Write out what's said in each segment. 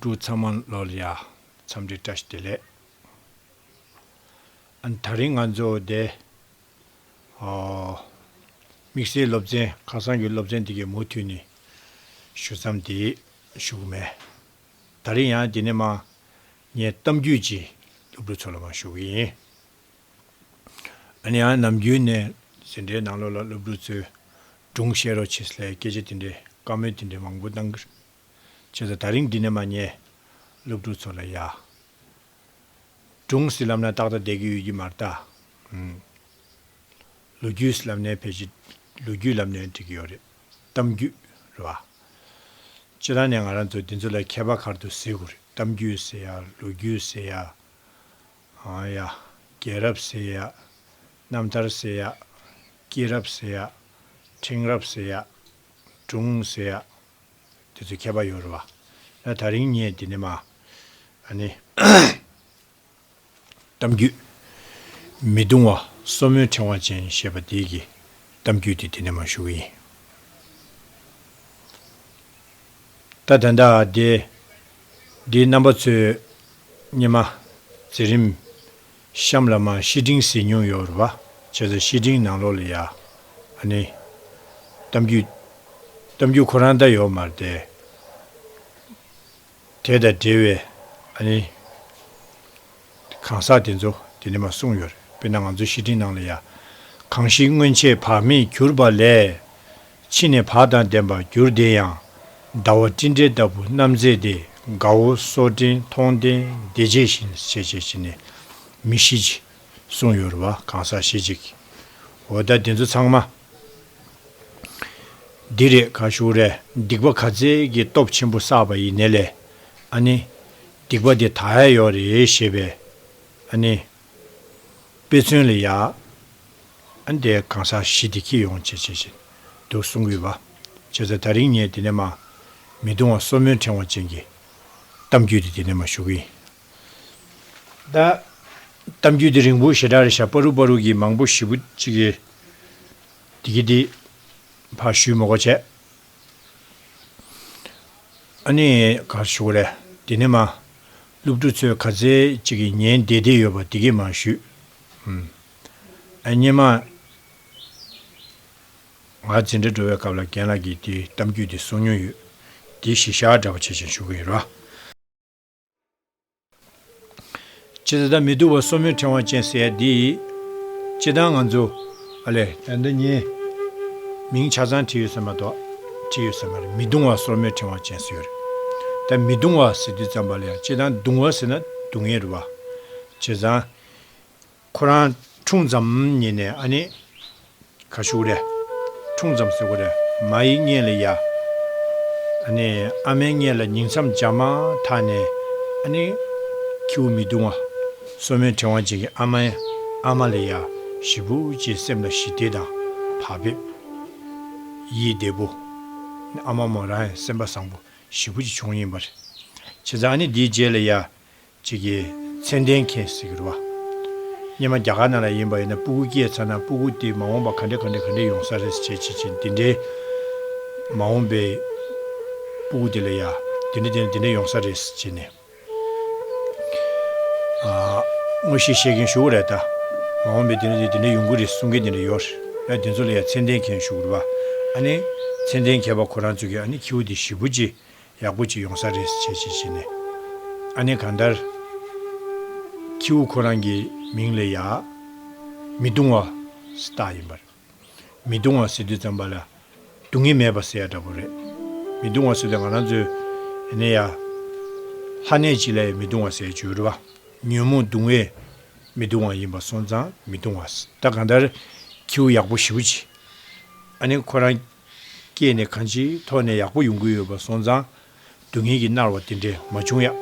འབྲུ་ཚང་མ་ལོ་ལ་ཡ། མཚམས་འདྲི་བཀྲ་ཤིས་བདེ་ལེགས། ད་རིང་ང་ཚོ་བདེ། ཧོ། དམིགས་བསལ་སློབ་ཚན་ཁ་སང་གི་སློབ་ཚན་དེ་གའི་མུ་མཐུད་ནས་ཞུ་མཚམས་དེ་ཞུ་གི་མེད། ད་རིང་ཡང་དེ་ནས་མ། ངས་གཏམ་རྒྱུད་ཀྱི་སློབ་ཕྲུག་ཚོ་ལ་མ་ཞུ་གི་ཡིན། འོན་ཡང་ནམ་རྒྱུན་ནས་ཟིན་བྲིས་ནང་ལོག་ལ་སློབ་ཕྲུག་ཚོས་སྒྲུང་བཤད་རོགས་བྱེད་སླད་སྐད་ཆ་དེ་འདྲའི་བཀའ་མོལ་དེ་འདྲའི་མང་པོ་གནང། བྱས་ཟ་ད་རིང་འདི་ནས་མ་ཉལ། སློབ་ཕྲུག་ཚོ་ལ་ཡ། སྒྲུང་སྲིད་ལབ་ན་ཏག་ཏག་བསྡད་ཀྱི་ཡོད་ཀྱི་མ་རེད་ད། ལོ་རྒྱུས་སྲིད་ལབ་ནས་ཕལ་ཆེར་ལོ་རྒྱུས་ལབ་ནས་འགྲིག་གི་ཡོད་རེད། གཏམ་རྒྱུད་རེད་བ། སྤྱི་ལ་ནས་ང་རང་ཚོ་འདི་ཚོ་ལ་མཁས་པ་གར་དུ་ཟེར་དགོས་རེད་གཏམ་རྒྱུད་ཟེར་ཡ་ལོ་རྒྱུས་ཟེར་ཡ། ཨང་ཡ། རྒྱལ་རབས་ཟེར་ཡ། རྣམ་ཐར་ཟེར་ཡ། སྐྱེས་རབས་ཟེར་ཡ། ཕྲེང་རབས་ཟེར་ཡ། སྒྲུང་ཟེར་ཡ། དེ་ཚོའི་ཁྱད་པར་ཡོད་རུང་བ། ན་ད་རིང་ངས་འདི་ནས་མ། ཨ་ནི། གཏམ་རྒྱུད། མི་གདུང་བ་སོར་མོའི་ཕྲེང་བ་ཅན་ཞེས་པ་འདི་གི་གཏམ་རྒྱུད་དེ་འདི་ནས་མ་ཞུ་གི་ཡིན། ད་ད་ལྟ་དེ། འདིའི་རྣམ་པ་ཚོས། སྙེ་མ། ཛེ་རིམ། ཤམ་ལ་མ་ཤི་སྤྲིང་ཟིལ་སྙུང་ཡོ་རུ་བ་བྱེད་ལ་ཤི་སྤྲིང་ནང་ལོག་ལ་ཡ། ཨ་ནི། གཏམ་རྒྱུད། གཏམ་རྒྱུད་ཁོ་རང་ད་ཡོ་མར་བསྡད། དེ་དང་འབྲེལ་བའི་ཨ་ནི། གང་ཟག་དེ་ཚོ་དེ་ནི་མ་གསུངས་ཡོ་རེད་དཔེར་ན་ང་ཚོ་ཤི་སྤྲིང་ནང་ལ་ཡ། གང་ཞིག་སྔོན་ཆད་བག་མེད་གྱུར་པ་ལས། ཕྱི་ནས་བག་དང་ལྡན་པར་གྱུར་བདེ་ཡང། ཟླ་བ་སྤྲིན་བྲལ་ལྟ་བུ་རྣམ་མཛེས་ཏེ་དགའ་བོ་སོགས་སྤྲིན་མཐོང་ལྡན་བདེ་ཆེ་ཞིང་ཆེ་ཆེ་བྱེད་ནས་མི་ཤི་ཅིག། གསུང་ཡོད་རུ་བ་གང་ཟག་ཤི་ཅིག། འོ་ད་འདི་ཚོ་ཚང་མ། འདི་རེད་ག་ཞུགས་རེད་སྡིག་པ་ག་ཚད་ཀྱི་སྟོབས་ཆེན་པོ་བསགས་པ་ཡི་ནས་ལས་ཨ་ནི། སྡིག་པ་དེ་ད་ཧད་ཡོག་རེད་ཞེས་པས་ཨ་ནི། དཔེ་མཚོན་ལས་ཡག། འདས་གང་ཟག་བཞི་བདེ་སྐྱིད་ཡོང་བྱེད་བྱེད་བཞིན་འདུག་གསུང་གི་བ། བྱས་ཙང་ད་རིང་ངས་འདི་ནས་མ། མི་གདུང་བ་སོར་མོའི་ཕྲེང་བ་ཅན་གྱི། གཏམ་རྒྱུད་འདི་འདི་ནས་མ་ཞུ་གི་ཡིན། ད། གཏམ་རྒྱུད་འདི་རིང་བོ་ཞེ་དྲག་རེད་ཤག་པ་རུག་པ་རུག་གི་མང་པོ་བཞི་པོ་གཅིག་གི། འདི་གི་འདི། ཕ་ཞུས་མོ་གོ་བྱས། ཨ་ནི། ག་རེ་ཞུ་གི་རེད། དེ་ནི་མ། སློབ་ཕྲུག་ཚོས་ག་ཚད་ཅིག་གི་ཉན་བདེ་བདེ་ཡོད་པ་དེ་གས་མ་ཞུས། ཨ་མྱེས་མ། ང་འཛིན་གྲྭ་འགྲོ་བའི་སྐབས་ལ་རྒན་ལགས་ཀྱིས་དེའི་གཏམ་རྒྱུད་དེ་གསུང་མྱོང་ཡོད། དེ་གཞི་བཞག་འདྲ་པོ་བྱེད་བཞིན་ཞུ་གི་ཡོད་ར། ཇི་ལྟ་མི་སྡུག་པ་སོར་མོའི་ཕྲེང་བ་ཅན་ཟེར་ཡ་འདི། སྤྱི་བཏང་ང་ཚོ། ཨ་ལས། ཡ་འདི་གཉིས། མིང་ཆ་ཚང་བྲིས་ཡོད་ཟེར་མ་གཏོགས། བྲིས་ཡོད་ཟེར་མ་རེད་མི་སྡུང་བ་སོར་མོའི་ཕྲེང་བ་ཅན་ཟེར་ཡོད་རེད། ད་མི་སྡུང་བ་ཟེར་དུས་ཙམ་པ་ལ་ཡང་སྤྱི་བཏང་སྡུང་བ་ཟེར་ན་སྡུག་ངེས་རེད་བ། བྱས་ཙང། ཁོ་རང་འཁྲུངས་མཚམས་ཉིན་ནས་ཨ་ནེ། ག་ཤུག་རེ། འཁྲུངས་མཚམས་ཟེར་གོ་རེ། མ་ཡིག་རྙེད་ལ་ཡ། ཨ་ནེ། ཨ་མའི་རྙེད་ལ་ཉིང་མཚམས་འཇག་མ་ཐག་ནས། ཨ་ནེ། ཁྱེའུ་མི་བརྡུང་བ། སོ་མའི་ཕྲེང་བ་ཅན་གྱི་ཨ་མ། ཨ་མ་ལ་ཡ། ཞི་བུ་ཅེས་སེམས་ལ་ཞི་བདེ་དང། བག་ཕེབས། ཡིད་བདེ་པོ། ཨ་མ་མོ་རང་ཡང་སེམས་པ་བཟང་པོ་ཞི་བུ་ཅིག་བྱུང་ཡིན་པར། བྱས་ཙང་ཨ་ནེ་འདིའི་རྗེས་ལ་ཡ། ཅིག་གིས་མཚན་ལྡན་མཁྱེན་གཟིགས་རུ་བ། སྙེ་མ་རྒྱ་གར་ནང་ལ་ཡིན་པ་ཡིན་ན་སྤུ་གུ་སྐྱེས་ཚར་ན་སྤུ་གུ་དེ་མ་འོངས་པ་ག་འདྲེ་ག་འདྲེ་ག་འདྲེ་ཡོང་ས་རེད་བྱེད་བྱེད་བྱེད་འདི་འདྲེ་མ་འོངས་པའི་སྤུ་གུ་དེ་ལ་ཡ་དེ་འདྲེ་དེ་འདྲེ་དེ་འདྲེ་ཡོང་ས་རེད་བྱེད་ནས་དངོས་གཞི་བཤད་མཁན་ཞུ་གི་རེད་ད་མ་འོངས་པའི་དེ་འདྲེ་དེ་འདྲེ་ཡོང་གི་རེད་གསུང་མཁན་དེ་འདྲེ་ཡོད་རེད་དེ་ཚོ་ལ་ཡ་མཚན་ལྡན་མཁྱེན་གཟིགས་རུ་བ། ཨ་ནི་མཚན་ལྡན་མཁས་པ་ཁོ་རང་ཚོ་གིས་ཨ་ནི་ཁྱེའུ་དེ་ཞི་བུ་ཅི་ཡག་པོ་གཅིག་ཡོང་ས་རེད་བྱས་བྱས་བྱས་ནས་ཨ་ནེ་གང་ལྟར། ཁྱེའུ་ཁོ་རང་གི་མིང་ལས་ཡག། མི་དུང་བ། ཟེ་རྟགས་ཡིན་པར། མི་དུང་བ་ཟེར་དུས་ཙམ་པ་ལ་སྡུག་བསྔལ་མེད་པ་ཟེར་ཡ་འདྲ་པོ་རེད། མི་དུང་བ་ཟེར་དུས་ང་རང་ཚོའི་ཨ་ནེ་ཡ། ལྷ་གནས་སྤྱི་ལ་ཡ་མི་དུང་བ་ཟེར་བྱོས་རུ་བ། ཉོན་མོངས་གདུང་བས་མི་དུང་བ་ཡིན་པ་སོང་ཙང་མི་དུང་བ། ད་གང་ལྟར་ཁྱེའུ་ཡག་པོ་ཞི་བོ་གྱིས། ཨ་ནེ་ཁོ་རང། སྐྱེས་ནས་གང་ཅིའི་ཐོག་ནས་ཡག་པོ་ཡོང་གི་ཡོད་པ་སོང་ཙང། སྡུག་བསྔལ་གྱིས་མནར་བ་དེ་འདྲས་མ་བྱུང་ཡག།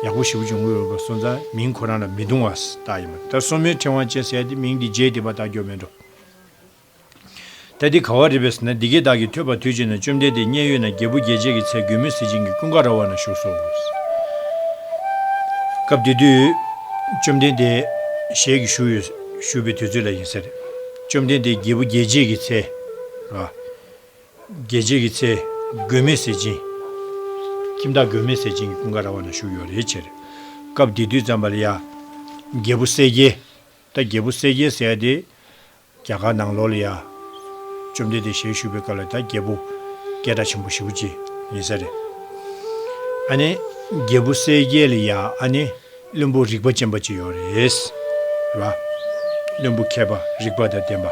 ཡག་པོ་ཞིག་བྱུང་གི་ཡོད་པ་སོང་ཙང་མིང་ཁོ་རང་ལ་མི་རྡུང་བ་ལྟ་ཡིན་པ་ད་སོང་མོའི་ཕྲེང་བ་ཅན་ཟེར་ཏེ་མིང་འདི་བརྗེས་ཏེ་པ་ལྟ་འགྱོ་མེད་འགྲོ། ད་འདི་ག་བ་རེད་པས་ཟེར་ན་འདི་གས་བདག་གིས་ཐོས་པ་དུས་ཅིག་ན་བཅོམ་ལྡན་འདས་མཉན་ཡོད་ན་རྒྱལ་བུ་རྒྱལ་བྱེད་ཀྱི་ཚལ་གྱོས་མོས་གཟི་བྱིན་གྱི་ཀུན་དགའ་ར་བ་ན་བཞུགས་སོ། སྐབས་དེ་དུས། བཅོམ་ལྡན་འདས། ཞལ་གྱིས་བཞུགས་ཡོད། བཞུགས་པའི་དུས་ཚོད་ལ་ཡིན་ཟེར། བཅོམ་ལྡན་འདས་རྒྱལ་བུ་རྒྱལ་བྱེད་ཀྱི་ཚལ། རྒྱལ་བྱེད་ཀྱི་ཚལ། མགོན་མེད་ཟས་སྦྱིན། ཁྱིམ་བདག་མགོན་མེད་ཟས་སྦྱིན་གྱི་ཀུན་དགའ་ར་བ་ན་བཞུགས་ཡོད་རེའི་ཕྱིར། སྐབས་འདི་དུས་ཙམ་པ་ལ་ཡ། རྒྱལ་བུ་གསལ་རྒྱལ། ད་རྒྱལ་བུ་གསལ་རྒྱལ་ཟེར་ཡ་དེ། རྒྱ་གར་ནང་ལོགས་ལ་ཡ། བཅོམ་ལྡན་འདས་ཞལ་བཞུགས་པའི་སྐབས་ལ་ད་རྒྱལ་བུ། སྐད་གྲགས་ཆེན་པོ་བཞི་བོ་ཅི། ཡིན་ས་རེད། ཨ་ནི། རྒྱལ་བུ་གསལ་རྒྱལ་ལ་ཡ་ཨ་ནི། བློན་པོ་རིག་པ་ཅན་པ་ཅིག་ཡོད་རེད་ལ། བློན་པོ་མཁས་པ་རིག་པ་དང་ལྡན་པ་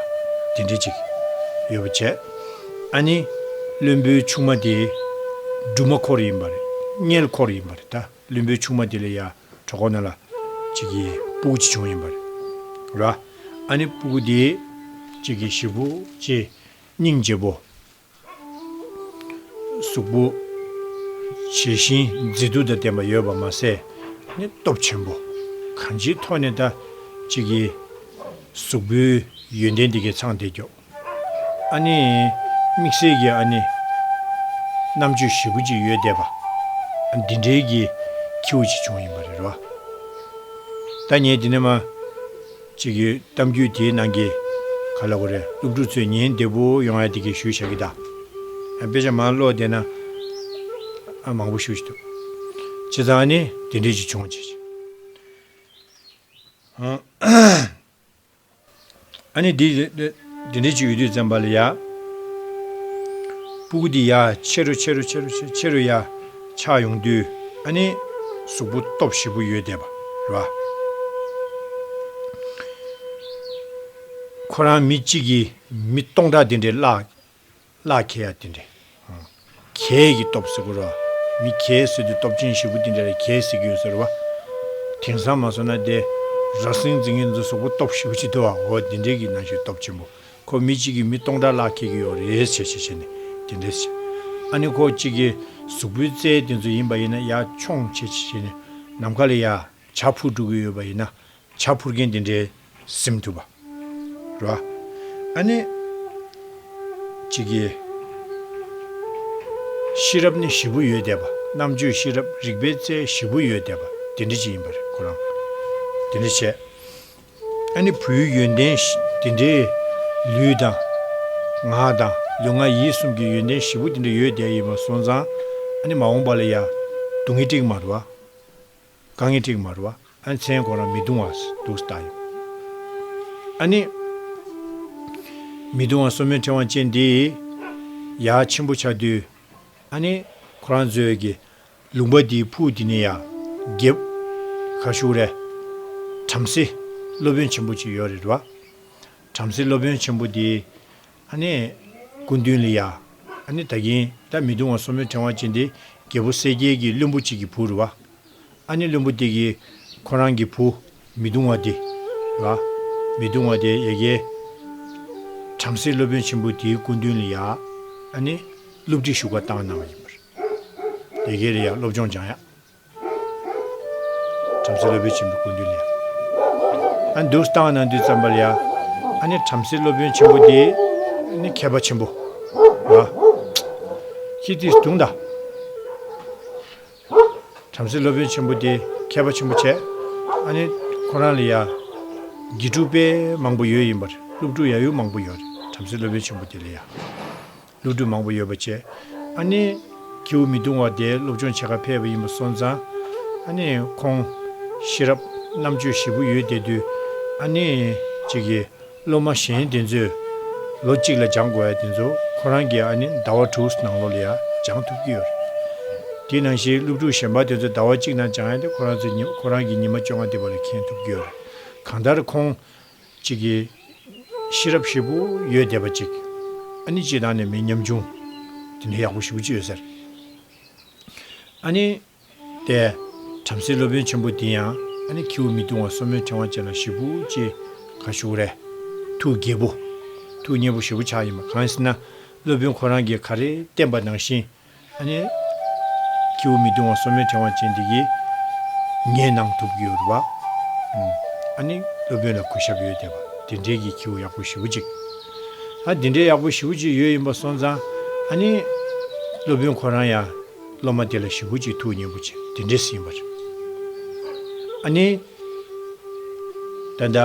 དེ་འདྲ་ཅིག་ཡོད་པ་བྱས། ཨ་ནི་བློན་པོའི་ཆུང་མ་དེ་སྦྲུམ་མ་འཁོར་ཡིན་པ་རེད། མངལ་འཁོར་ཡིན་པ་རེད་ད། བློན་པོའི་ཆུང་མ་དེ་ལ་ཡ་གྲོ་གོ་ན་ལ་ཅིག་གི་སྤུ་གུ་ཅིག་བྱུང་ཡིན་པ་རེད་ལ། ཨ་ནི་སྤུ་གུ་དེ་ཅིག་གི་ཞེ་བུ་ཅེ་སྙིང་རྗེ་བོ་གཟུགས་པོ། ཇི་བཞིན་མཛེས་སྡུག་དང་ལྡན་པ་ཡོད་པར་མ་ཟད། ནི་སྟོབས་ཆེན་པོ། གང་ཅིའི་ཐོག་ནས་ད། ཅིག་གིས། གཟུགས་པོའི། ཡོན་ཏན་དེ་གས་ཚང་དེ་མགྱོགས། ཨ་ནི། དམིགས་བསལ་གྱིས་ཨ་ནི། རྣམ་དཔྱོད་བཞི་པོ་ཅིག་ཡོད་བསྡད་པ། འདི་འདྲའི་གྱི། ཁྱེའུ་ཅིག་བྱུང་ཡིན་པ་རེད་རོ། ད་ངས་འདི་ནས་མ། ཅིག་གི་གཏམ་རྒྱུད་དེའི་ནང་གི་ག་ལ་གོ་རེ་སློབ་ཕྲུག་ཚོས་ཉིན་བདེ་པོ་ཡོང་ཡ་དེ་གི་ཞུ་བྱ་གི་ད་དཔེ་ཆ་མང་ཀློག་བསྡད་ན་ཨ་མང་པོ་ཞུ་བྱེད་ཐུབ་བྱེད་ཙང་ནི་དེ་འདྲས་ཅིག་བྱུང་བྱས་ཨ་ནི་དེ་འདི་འདྲའི་ཅིག་ཡོད་དུས་བཙན་པ་ལ་ཡག། སྤུ་གུ་འདི་ཡག་ཆེ་རུ་ཆེ་རུ་ཆེ་རུ་ཆེ་རུ་ཡག་ཆགས་ཡོང་དུས་ཨ་ནི། གཟུགས་པོ་སྟོབས་ཞིབ་པོ་ཡོད་བསྡད་པ་རེད་བ། ཁོ་རང་མི་གཅིག་གིས་མི་སྟོང་ཕྲག་འདི་འདྲའི་བརླག། བླ་གལ་ཡང་དེ་འདྲ། གལ་གྱི་སྟོབས་ཟེར་སྐོར་བ། མི་གལ་ཟེར་དུས་སྟོབས་ཆེན་བཞི་པོ་དེ་འདྲ་རེ་གལ་ཟེར་གྱི་ཡོད་ཟེར་བ། དེང་སང་མ་བཟོ་ན་དེ། ར་སེང་རྫིང་གི་མཛོ་སོག་པོ་སྟོབས་བཞི་པོ་ཅི་འདི་བ་འོ་དེ་འདྲའི་གི་ན་གཞོན་སྟོབས་ཆེན་པོ་ཁོ་མི་གཅིག་གིས་མི་སྟོང་ཕྲག་ལྷག་ཁེལ་གྱི་ཡོད་རེད་བྱས་བྱས་བྱས་ནས་དེ་འདྲ་བྱས། ཨ་ནི་ཁོ་གཅིག་གི་གཟུགས་པོའི་རྩལ་དེ་ཚོ་ཡིན་པ་ཡིན་ན་ཡ་མཆོངས་བྱས་བྱས་བྱས་ནས་ནམ་མཁའ་ལ་ཡ་བྱ་འཕུར་འགྲོ་གི་ཡོད་པ་ཡིན་ན་བྱ་འཕུར་མཁན་དེ་འདྲའི་སེམས་ཐུབ་པ་རེད། ཨ་ནེ། གཅིག་གིས། ཤེས་རབ་ནི་བཞི་པོ་ཡོད་བསྡད་པ་རྣམ་དཔྱོད་ཤེས་རབ་རིག་པའི་རྩལ་བཞི་པོ་ཡོད་བསྡད་པ་དེ་འདྲ་ཅིག་ཡིན་པ་རེད་ཁོ་རང་དེ་འདྲ་བྱས། ཨ་ནེ་བུའི་ཡོན་ཏན་དེ་འདྲའི་ལུས་དང། ངག་དང་ལུས་ངག་ཡིད་གསུམ་གྱི་ཡོན་ཏན་བཞི་པོ་དེ་འདྲ་ཡོད་བསྡད་ཡིན་པ་སོང་ཙང་ཨ་ནེ་མ་འོངས་པ་ལ་ཡང་སྡུག་བསྔལ་ཀྲིག་མ་རུ་བ། གང་ངེས་དྲེགས་མར་བ། ཨ་མཚན་གོ་རང་མི་གདུང་བ། དུག་ལྟ་ཡི། ཨ་ནི། མི་གདུང་བ་གསོ་མོའི་ཕྲེང་བ་ཅན་འདི། ཡ། ཆེན་པོ་ཆ་དུས། ཨ་ནི། ཁོ་རང་མཛོད་ཀྱི། ལུང་པ་འདིའི་ཕུག་འདི་ནི་ཡ། རྒྱབ། ཁ་བཤུག་རེ། བྲམ་ཟེ། སློབ་དཔོན་ཆེན་པོ་ཅིག་ཡོད་རེད་བ། བྲམ་ཟེ་སློབ་དཔོན་ཆེན་པོ་དེའི། ཨ་ནེ། སྐུ་མདུན་ལ་ཡ། ཨ་ནེ་ད་གིན་ད་མི་འདུག་ང་སོ་མོའི་ཕྲེང་བ་ཅན་དེ་རྒྱལ་པོ་གསལ་རྒྱལ་གྱི་བློན་པོ་གཅིག་གི་བུ་རུ་བ། ཨ་ནེ་བློན་པོ་དེ་གིས། ཁོ་རང་གི་བུ། མི་འདུག་བ་དེ། ལ། མི་འདུག་བ་དེ་ཡ་རྒྱལ། བྲམ་ཟེ་སློབ་དཔོན་ཆེན་པོ་དེའི་སྐུ་མདུན་ལ་ཡ། ཨ་ནེ། བསླུ་བྲིད་ཞུགས་པ་བཏང་གནང་བ་ཡིན་པར། ཡ་རྒྱལ་ལ་ཡ་སློབ་སྦྱོང་སྦྱང་ཡག། བྲམ་ཟེ་སློབ་དཔོན་ཆེན་པོའི་སྐུ་མདུན་ལས། ཨ་འདུག་སྟངས་ན་འདུག་ཙམ་པ་ལ་ཡ། ཨ་ནི་བྲམ་ཟེ་སློབ་དཔོན་ཆེན་པོ་དེ། ནི་མཁས་པ་ཆེན་པོ། ཨ། ཅི་སྟེ་བརྡུངས་ད། བྲམ་ཟེ་སློབ་དཔོན་ཆེན་པོ་དེ་མཁས་པ་ཆེན་པོ་བྱས། ཨ་ནི། ཁོ་རང་ལ་ཡ། དགེ་ཕྲུག་དཔལ་མང་པོ་ཡོད་ཡིན་པར་སློབ་ཕྲུག་ཡ་ཡུ་མང་པོ་ཡོད་རེད་བྲམ་ཟེ་སློབ་དཔོན་ཆེན་པོ་དེ་ལ་ཡ། སློབ་ཕྲུག་མང་པོ་ཡོད་པ་བཅས། ཨ་ནེ། ཁྱེའུ་མི་གདུང་བ་དེའི་སློབ་སྦྱོང་བྱེད་ཁར་ཕེབས་པ་ཡིན་པ་སོང་ཙང། ཨ་ནེ། ཁོང། ཤེས་རབ། རྣམ་དཔྱོད་ཞེད་པོ་ཡོད་བསྡད་དུས། ཨ་ནེ། ཅིག་གིས། སློབ་མ་གཞན་དེ་ཚོས། ལོ་གཅིག་ལ་སྦྱང་དགོས་ཡ་དེ་ཚོ་ཁོ་རང་གིས་ཨ་ནེ། ཟླ་བ་དྲུག་ནང་ལོགས་ལ་ཡང་སྦྱང་ཐུབ་ཀྱི་ཡོད་རེད། དེ་ནང་བཞིན་སློབ་ཕྲུག་གཞན་པ་དེ་ཚོ་ཟླ་བ་གཅིག་ནང་སྦྱང་ཡ་དེ་ཁོ་རང་ཚོས་ཁོ་རང་གི་ཉི་མ་བཅོ་ལྔ་འདི་བར་ལ་མཁྱེན་ཐུབ་ཀྱི་ཡོད་རེད། གང་ལྟར་ཁོང། གཅིག་གིས། ཤེས་རབ་ཧྲིལ་པོ་ཡོད་བསྡད་པ་གཅིག། ཨ་ནི་སྤྱི་དང་ནི་མི་མཉམ་བྱུང། དེ་འདྲའི་ཡག་པོ་ཞིག་པོ་ཅི་ཡོད་ཟེར། ཨ་ནི། དེ། བྲམ་ཟེའི་སློབ་དཔོན་ཆེན་པོ་འདི་ཡང་ཨ་ནི་ཁྱེའུ་མི་བཏུང་བ་སོར་མོའི་ཕྲེང་བ་ཅན་ལ་ཞིག་པོ་ཅི། ག་ཞུགས་རེད། ཐུགས་དགྱེས་པོ། ཐུགས་མཉེས་པོ་ཞིག་པོ་ཆགས་ཡིན་པ་གང་ཟེར་ན། སློབ་དཔོན་ཁོ་རང་གིས་ག་རེ་བསྟན་པ་ནང་བཞིན། ཁྱེའུ་མི་གདུང་བ་སོ་མའི་ཕྲེང་བ་ཅན་དེ་ཡིས། ངས་གནང་ཐུབ་ཀྱི་ཡོད་པ། སློབ་དཔོན་ལ་གུས་ཞབས་ཡོད་དེ། དེ་འདྲའི་གྱི་ཁྱེའུ་ཡག་པོ་ཞི་བོ་གཅིག། དེ་འདྲའི་ཡག་པོ་ཞི་བོ་གཅིག་ཡོད་ཡིན་པ་སོང་ཙང། སློབ་དཔོན་ཁོ་རང་ཡང། སློབ་མ་དེ་ལ་ཞི་བོ་གཅིག་ཐུགས་མཉེས་པོ་བྱེད་དེ་འདྲས་ཡིན་པ་རེད། ད་ལྟ་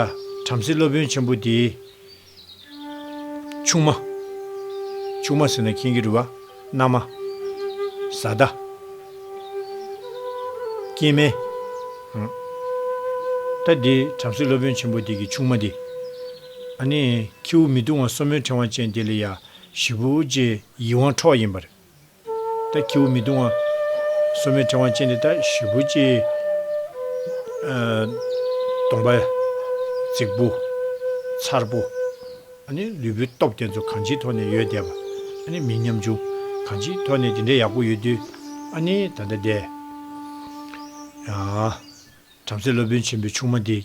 བྲམ་ཟེ་སློབ་དཔོན་ཆེན་པོ་དེའི། ཆུང་མ། ཆུང་མ་ཟེར་ན་ཁྱེད་ཀྱི་རུས་པ། མནའ་མ། བཟའ་ཟླ། སྐྱེས་དམན། ད་འདི་བྲམ་ཟེ་སློབ་དཔོན་ཆེན་པོ་འདི་གི་ཆུང་མ་འདི། ཨ་ནི། ཁྱེའུ་མི་བཏུང་བ་སོ་མོའི་ཕྲེང་བ་ཅན་འདི་ལ་ཡ། བཞི་པོ། ཡིད་དབང་འཕྲོག་ཡིན་པར། ལྟ། ཁྱེའུ་མི་གདུང་བ། སོ་མའི་ཕྲེང་བ་ཅན་དེ་ལྟ་བཞི་པོ་ཅི། སྟོང་པ། རྫིག་པོ། མཚར་པོ། ལུས་པོའི་སྟོབས་དེ་ཚོ་གང་ཅིའི་ཐོག་ནས་ཡོད་བསྡད་པ། མི་ཉམ་ཆུང། གང་ཅིའི་ཐོག་ནས་དེ་འདྲའི་ཡག་པོ་ཡོད་དུས། ད་ལྟ་བསྡད། བྲམ་ཟེ་སློབ་དཔོན་ཆེན་པོའི་ཆུང་མ་དེ།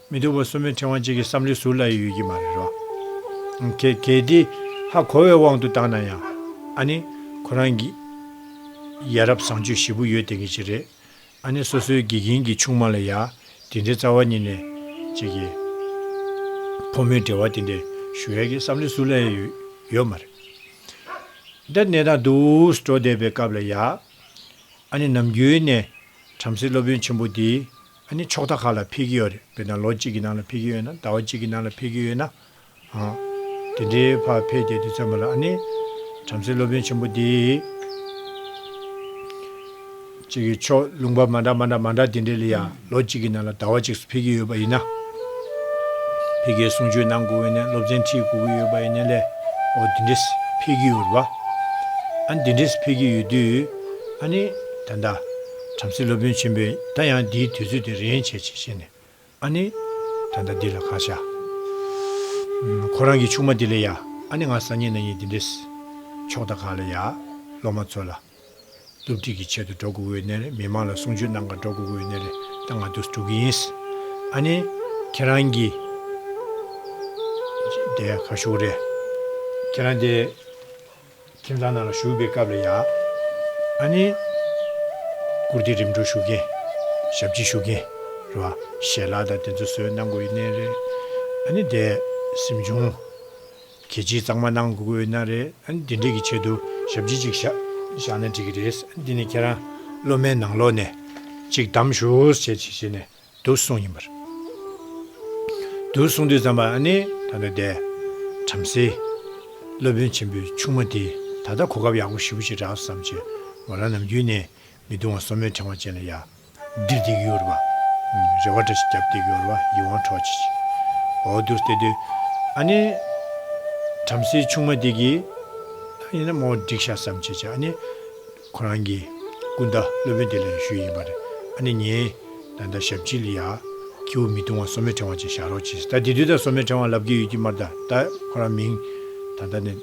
མི་འདུག་པ་སོ་མའི་ཕྲེང་བ་གཅིག་གི་བསམ་བློའི་ཟུར་ལ་ཡོད་ཀྱི་མ་རེད་རོ། གལ་ཏེ། ཧ་གོ་བའི་དབང་དུ་བཏང་ན་ཡང། ཨ་ནི། ཁོ་རང་གི། ཡ་རབས་བཟང་སྤྱོད་བཞི་པོ་ཡོད་བསྟན་གྱི་ཅི་རེད། ཨ་ནི་སོ་སོའི་དགེ་རྒན་གྱི་ཆུང་མ་ལ་ཡ། དེ་འདྲའི་རྩ་བ་ཉིད་ནས། ཅིག་གི། ཕོ་མོའི་འབྲེལ་བ་དེ་འདྲའི། ཞུ་ཡ་གི་བསམ་བློའི་ཟུར་ལ་ཡ་ཡོད། ཡོད་མ་རེད། འདྲ། གནས་སྟངས་དུས་འགྲོ་བསྡད་པའི་སྐབས་ལ་ཡ། ཨ་ནི་ནམ་རྒྱུན་ནས། བྲམ་ཟེ་སློབ་དཔོན་ཆེན་པོ་དེའི། ཨ་ནི་ཕྱོགས་མཐའ་ཁག་ལ་འཕེལ་གྱི་ཡོད་རེད་དཔེར་ན་ལོ་གཅིག་གི་ནང་ལ་འཕེལ་གྱི་ཡོད་ན་ཟླ་བ་གཅིག་གི་ནང་ལ་འཕེལ་གྱི་ཡོད་ན་འང། དེ་འདྲའི་བར་འཕེལ་ཏེ་དེ་ཚོད་མ་ལ་ཨ་ནི། བྲམ་ཟེའི་སློབ་དཔོན་ཆེན་པོ་འདི། གཅིག་གི་ཕྱོགས་ལུང་པ་མ་འདྲ་མ་འདྲ་མ་འདྲ་དེ་འདྲའི་ལ་ཡང་ལོ་གཅིག་གི་ནང་ལ་ཟླ་བ་གཅིག་སུ་འཕེལ་གྱི་ཡོད་པ་ཡིན་ན། འཕེལ་གྱི་གསུང་ཆོས་གནང་དགོས་ཡིན་ན་སློབ་ཚན་ཁྲིད་དགོས་ཀྱི་ཡོད་པ་ཡིན་ན་ལས་འོ་དེ་འདྲས་འཕེལ་གྱི་ཡོད་རེད་བ། ཨ་ནི་དེ་འདྲས་འཕེལ་གྱི་ཡོད་དུས། ཨ་ནི། ད་ལྟ། བྲམ་ཟེ་སློབ་དཔོན་ཆེན་པོས་ད་ཡང་འདིའི་དུས་ཚོད་དེ་རེ་ཡན་ཆད་ཅིག་བྱས་ནས། ཨ་ནེ། ད་ལྟ་འདི་ལ་གང་བྱ། ཁོ་རང་གི་ཆུང་མ་དེ་ལ་ཡ། ཨ་ནེ་ང་སང་ཉིན་ན་ཉིན་འདི་འདྲས། ཕྱོགས་དང་གང་ལ་ཡ། སློབ་མ་ཚོ་ལ། སློབ་ཁྲིད་ཀྱི་ཆེད་དུ་འགྲོ་དགོས་འོས་ནས་རེད་མི་མང་ལ་གསུང་ཆོས་གནང་ག་འགྲོ་དགོས་འོས་ནས་རེད་ད་ང་དུས་འགྲོ་གི་ཡིན། ཨ་ནེ། ཁྱེད་རང་གི། དེ་ག་ཞུགས་རེད། ཁྱེད་རང་དེ། ཁྱིམ་ཚང་ནང་ལ་ཞུགས་པའི་སྐབས་ལ་ཡང། ཨ་ནི། བཀུར་སྟི་རིམ་གྲོ་ཞུ་མཁན། ཞབས་ཕྱི་ཞུ་མཁན། རེད་བ། ཞལ་ལག་དང་དེ་ཚོ་བཟོས་གནང་དགོས་ཡོད་ནའི་རེད། ཨ་ནི་དེ། སེམས་ཆུང། གལ་ཆེའི་གཙང་མ་གནང་དགོས་ཀྱི་ཡོད་ན་རེད། ཨ་ནི་དེ་འདྲས་ཀྱི་ཆེད་དུ་ཞབས་ཕྱི་ཅིག་བཞག་བཞག་ན་འགྲིག་གི་རེད། ཨ་ནི་དེ་ནི་ཁྱེད་རང། སློབ་མའི་ནང་ལོགས་ནས། ཅིག་གདམ་ཞུ། ཞེས་ཞེས་ནས། དུ་གསུངས་ཡིན་པར། དུ་གསུངས་དུས་བརྩམས་པ་ནི་ད་ལྟ་འདས། བྲམ་ཟེ། སློབ་དཔོན་ཆེན་པོའི་ཆུང་མ་དེས་ད་ལྟ་གོ་སྐབས་ཡག་པོ་ཞིབ་པོ་ཞིག་བསྒྲགས་སམ་ཅི། ང་རང་ནམ་རྒྱུན་ནས་མི་དུང་བ་སོར་མོའི་ཕྲེང་བ་ཅན་ལ་ཡར། འདིར་བསྡིགས་ཡོད་རེ་བ། རེ་བ་འདྲ་ཞིག་བརྒྱབ་བསྡིགས་ཡོད་རེ་བ་ཡིད་དབང་འཕྲོག་བྱེད་ཅིང། འོ་དུ་བསྟེར་དུས། ཨ་ནི། བྲམ་ཟེའི་ཆུང་མ་དེ་གིས། ད་ཡིན་ན་མོ་བསྒྲིགས་ཤག་སམ་ཅི་བྱ་ཨ་ནི། ཁོ་རང་གིས། སྐུ་ཟླ་སློབ་དཔོན་དེ་ལས་ཞུས་ཡིན་པ་རེད། ཨ་ནི་ངས། ད་ཟླ་ཞབས་ཕྱི་ལ་ཡ། ཁྱེའུ་མི་ཐུང་བ་སོ་མའི་ཕྲེང་བ་ཅིག་བཞག་རོགས་གྱིས། ད་དེ་དུས་ད་སོ་མའི་ཕྲེང་བ་ལབ་ཀྱི་ཡོད་ཀྱི་མར་ད་ད་ཁོ་རང་མིང། ད་ད་ནས།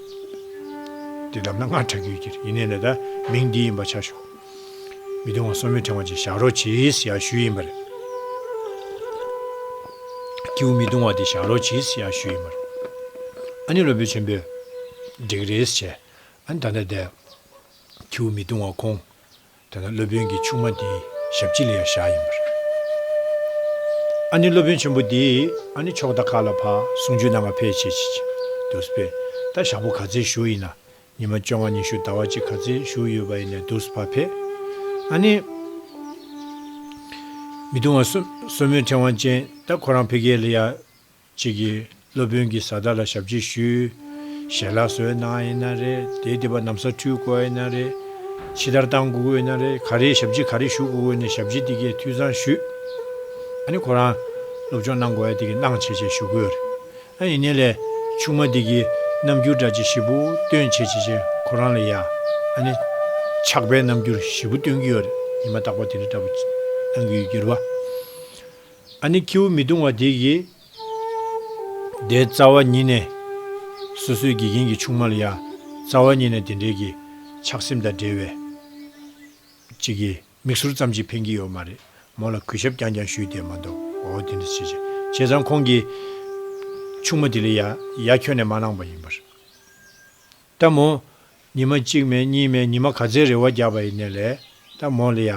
དེ་ལབ་ན་སྔར་གྲག་གི་ཡོད་ཀྱི་རེད་ཡིན་ནས་ད་ད་མིང་འདི་ཡིན་པ་ཆ་ཞོག། མི་ཐུང་བ་སོ་མའི་ཕྲེང་བ་ཅིག་བཞག་རོགས་གྱིས་ཡ་ཞུས་ཡིན་པ་རེད། ཁྱེའུ་མི་ཐུང་བ་དེ་བཞག་རོགས་གྱིས་ཡ་ཞུས་ཡིན་པ་རེད། ཨ་ནི་སློབ་དཔོན་ཆེན་པོས། འགྲིག་རེད་བྱས། ཨ་ནི་ད་ད་དེ། ཁྱེའུ་མི་གཏོང་བར་ཁོང། དེ་ན་སློབ་དཔོན་གྱི་ཆུང་མ་འདིའི་ཞབས་ཕྱི་ལ་ཡང་བཞག་ཡིན་པར། ཨ་ནི་སློབ་དཔོན་ཆེན་པོ་འདི་ཨ་ནི་ཕྱོགས་མཐའ་ཁག་ལ་ཕ་སུང་ཇུས་ནང་ང་ཕེ་བྱེད་ཅིག་ཅིག་འདུག་པས་ད་ཞག་པོ་ག་ཚེ་བཞུགས་ཡིན་ན་ཉི་མ་བཅོ་ལྔ་ཉི་ཤུ་ཟླ་བ་གཅིག་ག་ཚེ་བཞུགས་ཡོད་པ་ཡིན་ནས་འདུག་ཕ་ཕེ་ཨ་ནི། མི་གཏོང་བར་སོ་སོ་མོའི་ཕྲེང་བ་ཅན་ད་ཁོ་རང་ཕེ་གེ་ལ་ཡང། ཅིག་གིས་སློབ་དཔོན་གྱི་བཟའ་ཟླ་ལ་ཞབས་ཕྱི་ཞུས། ཞལ་ལག་བཟོས་ན་ཡིན་ན་རེ། དེའི་སྡེ་པ་ནམ་ས་འཕྲུལ་དགོས་ཡིན་ན་རེ། ཕྱི་དར་བཏང་དགོས་ཡིན་ན་རེ། ག་རེའི་ཞབས་ཕྱི་ག་རེ་ཞུ་དགོས་དགོས་ནས་ཞབས་ཕྱི་དེ་གའི་འཐུས་ཚང་ཞུས། ཨ་ནི་ཁོ་རང་སློབ་སྦྱོང་གནང་དགོས་ཡ་དེ་གའི་གནང་བྱེད་ཅེས་ཞུ་དགོས་རེད། ཨ་ཡིན་ནའི་ལས་ཆུང་མ་དེ་གའི་རྣམ་འགྱུར་འདྲ་ཅི་བཞི་བུ་སྟོན་བྱེད་ཅེས་ཅེས་ཁོ་རང་ལ་ཡ་ཨ་ནི་ཆགས་པའི་རྣམ་འགྱུར་བཞི་བུ་སྟོན་གྱི་ཡོད་རེད་ཡིན་མ་ཐག་པ་དེ་འདྲ་འདྲ་བུ་གནང་གི་ཡོད་གྱུར་བ། ཨ་ནི་ཁྱེའུ་མི་གདུང་བ་དེ་གིས། དེའི་རྩ་བ་ཉིད་ནས། སོ་སོའི་དགེ་རྒན་གྱི་ཆུང་མ་ལ་ཡང། རྩ་བ་ཉིད་ནས་དེ་འདྲའི་གི། ཆགས་སེམས་དང་འབྲེལ་བའི། ཅིག་གིས། མིག་ཟུར་ཙམ་ཅིག་འཕེན་གྱི་ཡོད་མ་རེད། མོ་ལ་གུས་ཞབས་རྐྱང་རྐྱང་ཞུས་ཏེ་མ་འདུག་འོ་དེ་འདྲ་བྱས། བྱས་ཙང་ཁོང་གིས། ཆུང་མ་དེ་ལ་ཡ། ཡ་ཁྱོན་ནས་མ་གནང་བ་ཡིན་པར། ལྟ་མོ། ཉི་མ་གཅིག་མེད་གཉིས་མེད་ཉི་མ་ག་ཚད་རེ་བ་རྒྱག་པ་ཡི་ནས་ལས། ལྟ་མོ། ལ་ཡ།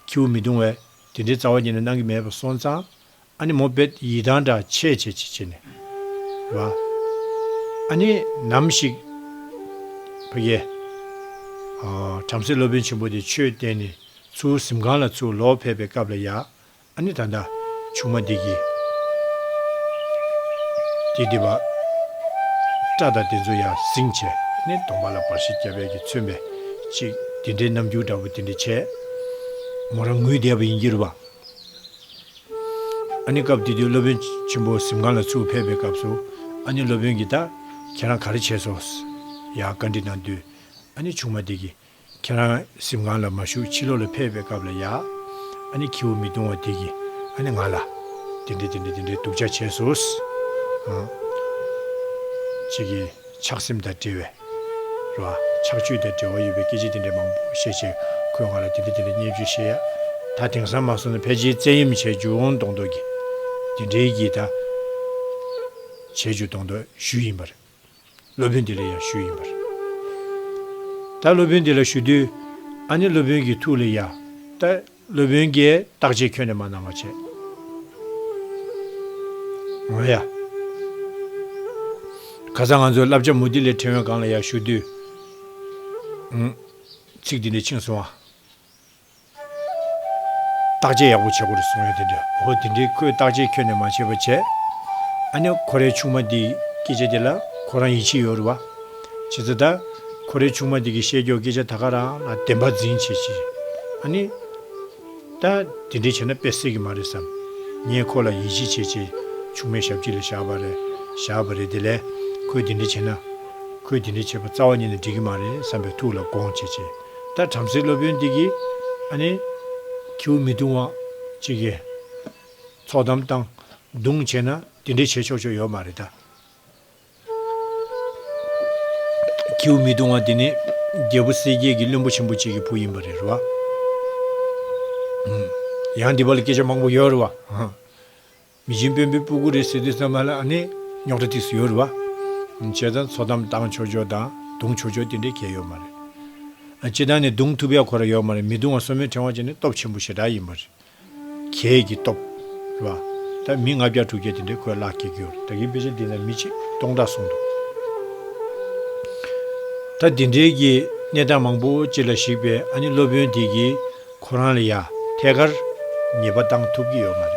ཁྱེའུ་མི་གདུང་བས། དེ་འདྲའི་རྩ་བ་ཉིད་ནས་གནང་གི་མེད་པར་སོང་ཙང། ཨ་ནི་མོ་པད་ཡི་དང་འདྲ་ཆེས་ཆེས་ཆེས་ཆེས་ནས། བ། ཨ་ནི། ནམ་ཞིག། ཕ་གི། བྲམ་ཟེ་སློབ་དཔོན་ཆེན་པོ་དེ་ཆོས་བསྟན་ནས་ཚུར་གཟིམ་ཁང་ལ་ཚུར་ལོག་ཕེབས་པའི་སྐབས་ལ་ཡ། ཨ་ནི་ད་ལྟ་ཆུང་མ་འདི་ཀྱིས། དེ་འདི་བ། སྐྲ་དང་དེ་ཚོ་ཡང་གཟིངས་བྱས་ནས་གདོང་པ་ལ་འབར་ཤིག་རྒྱ་བལ་གྱིས་མཚོན་པའི་ཅིག་འདི་འདྲའི་རྣམ་འགྱུར་འདྲ་བོ་དེ་འདྲ་བྱས། མོ་རང་ངུས་བསྡད་པ་ཡིན་གྱི་རུ་བ། ཨ་ནི་སྐབས་དེ་དུས་སློབ་དཔོན་ཆེན་པོ་གཟིམ་ཁང་ལ་ཚུར་ཕེབས་པའི་སྐབས་སུ་ཨ་ནི་སློབ་དཔོན་གྱིས་ད་ཁྱེད་རང་ག་རེ་བྱས་སོང་ཟེར་ཡང་བཀའ་འདྲི་གནང་དུས་ཨ་ནི་ཆུང་མ་འདི་ཀྱིས་ཁྱེད་རང་གཟིམ་ཁང་ལ་མ་བཞུགས་ཕྱི་ལོགས་ལ་ཕེབས་པའི་སྐབས་ལ་ཡ། ཨ་ནི་ཁྱེའུ་མི་གདུང་བ་དེ་གིས་ཨ་ནི་ང་ལ། དེ་འདྲས་དེ་འདྲས་དེ་འདྲས་སྡུག་ཅག་བྱས་སོ། ཅིག་གིས་ཆགས་སེམས་དང་འབྲེལ་བའི། རེད་བ། ཆགས་སྤྱོད་དང་འབྲེལ་བ་ཡོད་པའི་སྐད་ཆ་དེ་འདྲས་མང་པོ་བཤད་བྱས་ཁོས་ང་ལ་དེ་འདྲས་དེ་འདྲས་བརྙས་བཅོས་བཤད་ཡ། ད་དེང་སང་མ་སོང་ན་ཕལ་ཆེར་བཙན་གཡེམ་བྱས་རྒྱུ་འོང་མདོག་མདོག་གིས། དེ་འདྲས་གིས་ད། བྱས་རྒྱུ་མདོག་མདོག་ཞུས་ཡིན་པ་རེད། སློབ་དཔོན་དེ་ལ་ཡང་ཞུས་ཡིན་པར། ད་སློབ་དཔོན་དེ་ལ་ཞུ་དུས། ཨ་ནི་སློབ་དཔོན་གྱི་ཐུགས་ལ་ཡ། ད་སློབ་དཔོན་གྱིས་བརྟག་དཔྱད་ཁྱོན་ནས་མ་གནང་བར་བྱས། ང་ཡ། ག་ས་ང་ཚོའི་བསླབ་བྱ་མུ་ཏིག་ལས་ཕྲེང་བའི་སྒང་ལ་ཡ་ཞུ་དུས། ཚིག་འདི་འདྲ་འཆིང་སོང་ཨ། བརྟག་དཔྱད་ཡག་པོ་བྱེད་དགོས་རེད་གསུངས་ཡོད་དེ་འདྲ་ཧོ་དེ་འདྲའི་ཁོས་བརྟག་དཔྱད་ཁྱོན་ནས་མ་བྱས་པ་བྱས། ཨ་ནེ་ཁོ་རའི་ཆུང་མ་དེ་ཡི་སྐད་ཆ་དེ་ལ་ཁོ་རང་ཡིད་ཆེས་ཡོད་རེད་བ། བྱས་ཙང་ད། ཁོ་རའི་ཆུང་མ་དེ་གི་བཤད་རྒྱོག་སྐད་ཆ་ད་ག་རང་ལ་བདེན་པ་འཛིན་བྱེད་ཅི་རེད། ཨ་ནེ། ད། དེ་འདྲས་བྱས་ན་དཔེ་སྲིད་གི་མ་རེད་བསམ། ངས་ཁོ་ལ་ཡིད་ཆེས་བྱེད་ཅེས་ཆུང་མའི་ཞབས་ཕྱི་ལ་བཞག་པ་རེད། བཞག་པ་རེད་དེ་ལས་ཁོས་དེ་འདྲས་བྱས་ན། ཁོས་དེ་འདྲས་བྱས་པ་རྩ་བ་ཉིད་ནས་འགྲིག་གི་མ་རེད་བསམ་པའི་ཐུགས་ལ་དགོངས་བྱེད་ཅེས། ད་བྲམ་ཟེ་སློབ་དཔོན་འདི་གིས་ཨ་ནི། ཁྱེའུ་མི་བཏུང་བ་ཅིག་གིས། ཚོགས་དམ་བཏང། བརྡུང་བྱས་ན་དེ་འདྲས་བྱས་ཆོག་ཆོག་ཡོད་མ་རེད་ད། ཁྱེའུ་མི་བཏུང་བ་དེ་ནི་རྒྱལ་པོ་གསལ་རྒྱལ་གྱི་བློན་པོ་ཆེན་པོ་ཅིག་གི་བུ་ཡིན་པ་རེད་རོ། ཡང་འདི་པ་ལ་སྐད་ཆ་མང་པོ་ཡོད་རེད་བ། མི་བཞིན་བོན་པོའི་སྤུ་གུ་རེད་ཟེར་དུས་ཚང་མ་ལ་ཨ་ནེ། རྙོག་དྲ་ཐིག་སུ་ཡོད་རེད་བ། བྱས་ཙང་འཚོ་གཏམ་བཏང་ཆོག་ཆོག་དང་རྡུང་ཆོག་ཆོག་དེ་འདྲའི་གལ་ཡོད་མ་རེད། སྤྱི་བཏང་ནས་རྡུང་ཐུབ་ཡག་ཁོ་ར་ཡོད་མ་རེད་མི་རྡུང་བ་སོ་མོའི་ཕྲེང་བ་ཅན་ནི་སྟོབས་ཆེན་པོ་ཞེ་དྲག་ཡིན་པ་རེད། ཁྱེད་ཀྱི་སྟོབས། རེད་བ། ད་མི་ལྔ་བརྒྱ་དྲུག་བརྒྱ་དེ་འདྲའི་ཁོས་བརླག་སྐྱེལ་གྱི་ཡོད་རེད་ད་གིན་དཔེ་ཆ་འདི་ན་མི་ཆིག་སྟོང་ཕྲག་སོང་འདུག་ད། དེ་འདྲའི་གི་གནས་སྟངས་མང་པོ་ཅི་ལ་ཞིག་པས་ཨ་ནེ་སློབ་དཔོན་དེ་གིས། ཁོ་རང་ལ་ཡ་ཐད་ཀར་ཉེས་པ་བཏང་ཐུབ་ཀྱི་ཡོད་མ་རེད།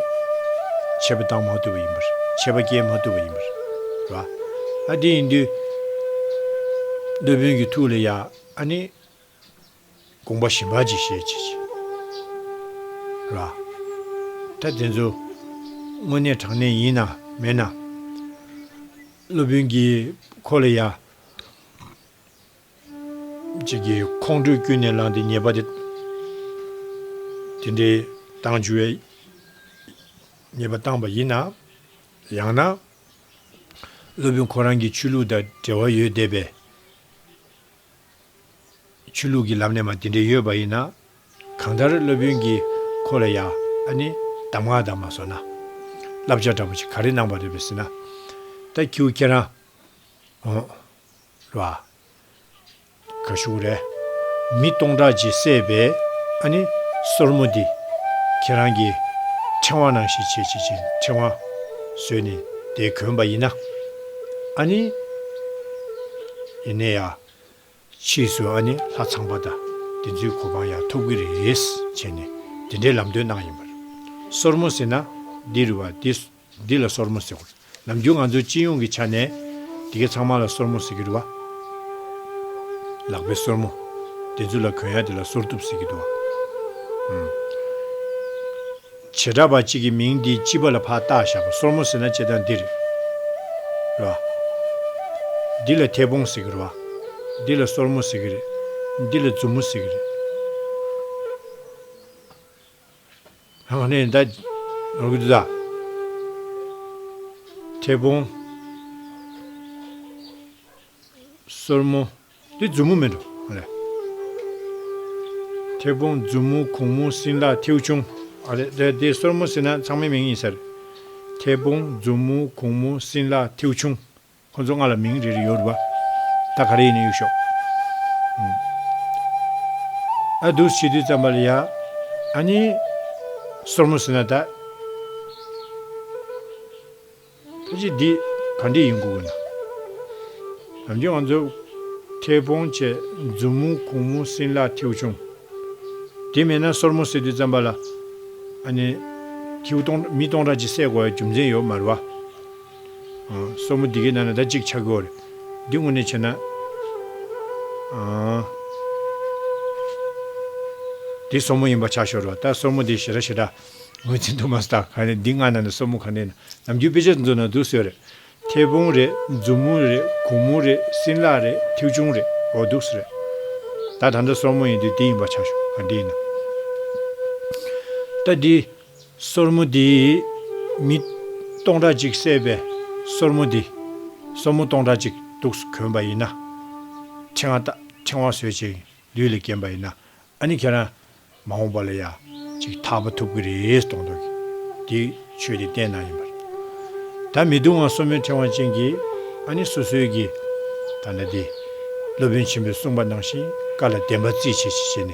ཆད་པ་བཏང་མ་ཐུབ་པ་ཡིན་པར་ཆད་པ་བསྐྱལ་མ་ཐུབ་པ་ཡིན་པར་རེད་བ། ཨ་དེ་ཡིན་དུས། འདོད་དཔོན་གྱི་ཐུགས་ལ་ཡ་ཨ་ནི། དགོངས་པ་ཞིམ་པ་ཅིག་བཞེས་ཅི་བྱེད། རེད་བ། ད་དེ་ཚོ། དངོས་གནས་དྲང་གནས་ཡིན་ནམ་མེད་ནམ། སློབ་དཔོན་གྱིས་ཁོ་ལ་ཡ། ཅིག་གིས་ཁོང་ཁྲོས་ཀུན་ནས་ལངས་ཏེ་ཉེས་པ་དེ་འདྲའི་བཏང་འཇུ་བའི་ཉེས་པ་བཏང་བ་ཡིན་ནམ། ཡང་ན། སློབ་དཔོན་ཁོ་རང་གི་ཆོས་ལུགས་དང་འབྲེལ་བ་ཡོད་བསྡད་པས། ཆོས་ལུགས་ཀྱི་ལམ་ནས་མ་དེ་འདྲའི་ཡོད་པ་ཡིན་ན། གང་ལྟར་སློབ་དཔོན་གྱིས་ཁོ་ལ་ཡ་ཨ་ནི་གདམས་ངག་དག་མ་བཟོ་ན། བསླབ་བྱ་འདྲ་པོ་ཞིག་ག་རེ་གནང་བ་རེད་པས་ཟེར་ན། ད་ཁྱེའུ་ཁྱེད་རང། ལ། ག་ཞུགས་རེ། མི་སྟོང་ཕྲག་གཅིག་བསད་པས་ཨ་ནི། སོར་མོ་འདི། ཁྱེད་རང་གི། ཕྲེང་བ་ནང་བཞིན་བྱེད་ཅེས་བྱིན་ཕྲེང་བ། བཟོས་ནས་དེ་གོན་པ་ཡིན་ན། ཨ་ནི། ཡིན་ནས་ཡ། ཕྱིས་སུ་ཨ་ནི་ལྷ་ཚངས་པ་དང་དེ་ཚོའི་གོ་འཕང་ཡང་ཐོབ་གི་རེད། བྱས་ནས་དེ་འདྲའི་ལམ་སྟོན་གནང་ཡིན་པར། སོར་མོ་ཟེར་ན་འདིར་བ་དེ། འདི་ལ་སོར་མོ་ཟེར། ནམ་རྒྱུན་ང་ཚོས་སྤྱི་ཡོངས་ཀྱི་ཆ་ནས། དེ་གའི་ཚང་མ་ལ་སོར་མོ་ཟེར་གྱི་འདུག་བ། ལག་པའི་སོར་མོ། དེ་ཚོ་ལ་གོན་ཡ་དེ་ལ་སོར་གཏུབ་ཟེར་གྱི་འདུག་བ། བྱེ་བྲག་པ་གཅིག་གི་མིང་འདིའི་སྤྱི་པ་ལ་ཕ་བཏགས་བཞག་པ་སོར་མོ་ཟེར་ན་བྱེད་སྟངས་འདི་རེད། བ། འདི་ལ་མཐེ་བོང་ཟེར་གྱི་རེད་བ། འདི་ལ་སོར་མོ་ཟེར་གྱི་རེད། འདི་ལ་མཛུབ་མོ་ཟེར་གྱི་རེད། ལྷག་གནས་མདའ། རུ་རྫ། ཐེ་བོང། སོར་མོ། འདི་མཛུབ་མོ་མིན་འགྲོ། ཨ་ལས། ཐེ་བོང་མཛུབ་མོ་གུང་མོ་སྲིན་ལག་མཐེའུ་ཆུང། ཨ་ལས། དེ་དེ་སོར་མོ་ཟེར་ན་ཚང་མའི་མིང་ཡིན་ཟེར། ཐེ་བོང་མཛུབ་མོ་གུང་མོ་སྲིན་ལག་མཐེའུ་ཆུང། ཁོ་ཚོ་ང་ལ་མིང་རེ་རེ་ཡོད་རེད་པ། ད་ག་རེ་ཡིན་ན་ཡོད་ཤོག། ཨ་དུས་ཕྱི་དུས་ཙམ་པ་ལ་ཡ། ཨ་ནི། སོར་མོ་ཟེར་ན་ད། ཁྱེད་ཀྱིས་འདི་ག་འདྲི་ཡིན་གོ་གི་འདུག། ལམ་རྒྱུད་ང་ཚོ། ཁེ་བོང་བཅས་མཛུབ་མོ་གུང་མོ་སྲིན་ལག་མཐེའུ་ཆུང། དེ་མེད་ན་སོར་མོ་ཟེར་དུས་ཙམ་པ་ལ། ཨ་ནི། མཐེའུ་སྟོང་མི་སྟོང་ཕྲག་ཅིག་བསད་དགོས་པའི་རྒྱུ་མཚན་ཡོད་མ་རེད་བ། སོར་མོ་འདི་གའི་ནང་ན་ཟླ་གཅིག་འཆར་དགོས། འདི་དངོས་གནས་བྱས་ན། འདི་སོར་མོ་ཡིན་པ་ཆགས་ཤོར་བ་ལྟར་སོར་མོ་དེ་ཞེ་དྲག་ཞེ་དྲག་ངོས་འཛིན་དུ་མ་སོང་ད་ག་ནས་འདི་སྔར་ནང་ན་སོར་མོ་གང་ནས་ནམ་རྒྱུན་དཔེ་ཆ་འཛུགས་ནང་འདུག་ཟེར། མཐེ་བོང་རེད་མཛུབ་མོ་རེད་གུང་མོ་རེད་སྲིན་ལག་རེད་མཐེའུ་ཆུང་རེད་འོ་འདུག་ཟེར། ད་ད་ལྟ་སོར་མོ་ཡིན་དུས་འདི་ཡིན་པ་ཆགས་ཤོར་ད་འདི་ཡིན། ད་འདི། སོར་མོ་འདི། མི། སྟོང་ཕྲག་གཅིག་བསད་པའི་སོར་མོ་འདི། སོར་མོ་སྟོང་ཕྲག་གཅིག་གདུགས་སུ་གོན་པ་ཡིན་ན། ཕྲེང་བ། ཕྲེང་བ་ཟོས་བྱས་ལུས་ལ་བརྒྱན་པ་ཡིན་ན། ཨ་ནི་ཁྱེད་རང། མ་འོངས་པ་ལ་ཡ། ཅིག་ཐག་པ་ཐུབ་ཀྱི་རེད་གཏོང་ཐུབ་ཀྱི། འདི། ཆོས་དེ་བསྟན་གནང་ཡིན་པ་རེད། ད་མི་སྡུག་ང་སོར་མོའི་ཕྲེང་བ་ཅན་གྱི། ཨ་ནི་སོ་སོའི་གྱི། ད་ལྟ་འདི། སློབ་དཔོན་ཆེན་པོས་གསུངས་པ་ནང་བཞིན་བཀའ་ལ་བདེན་པ་རྩིས་བྱེད་ཅིག་བྱས་ནས།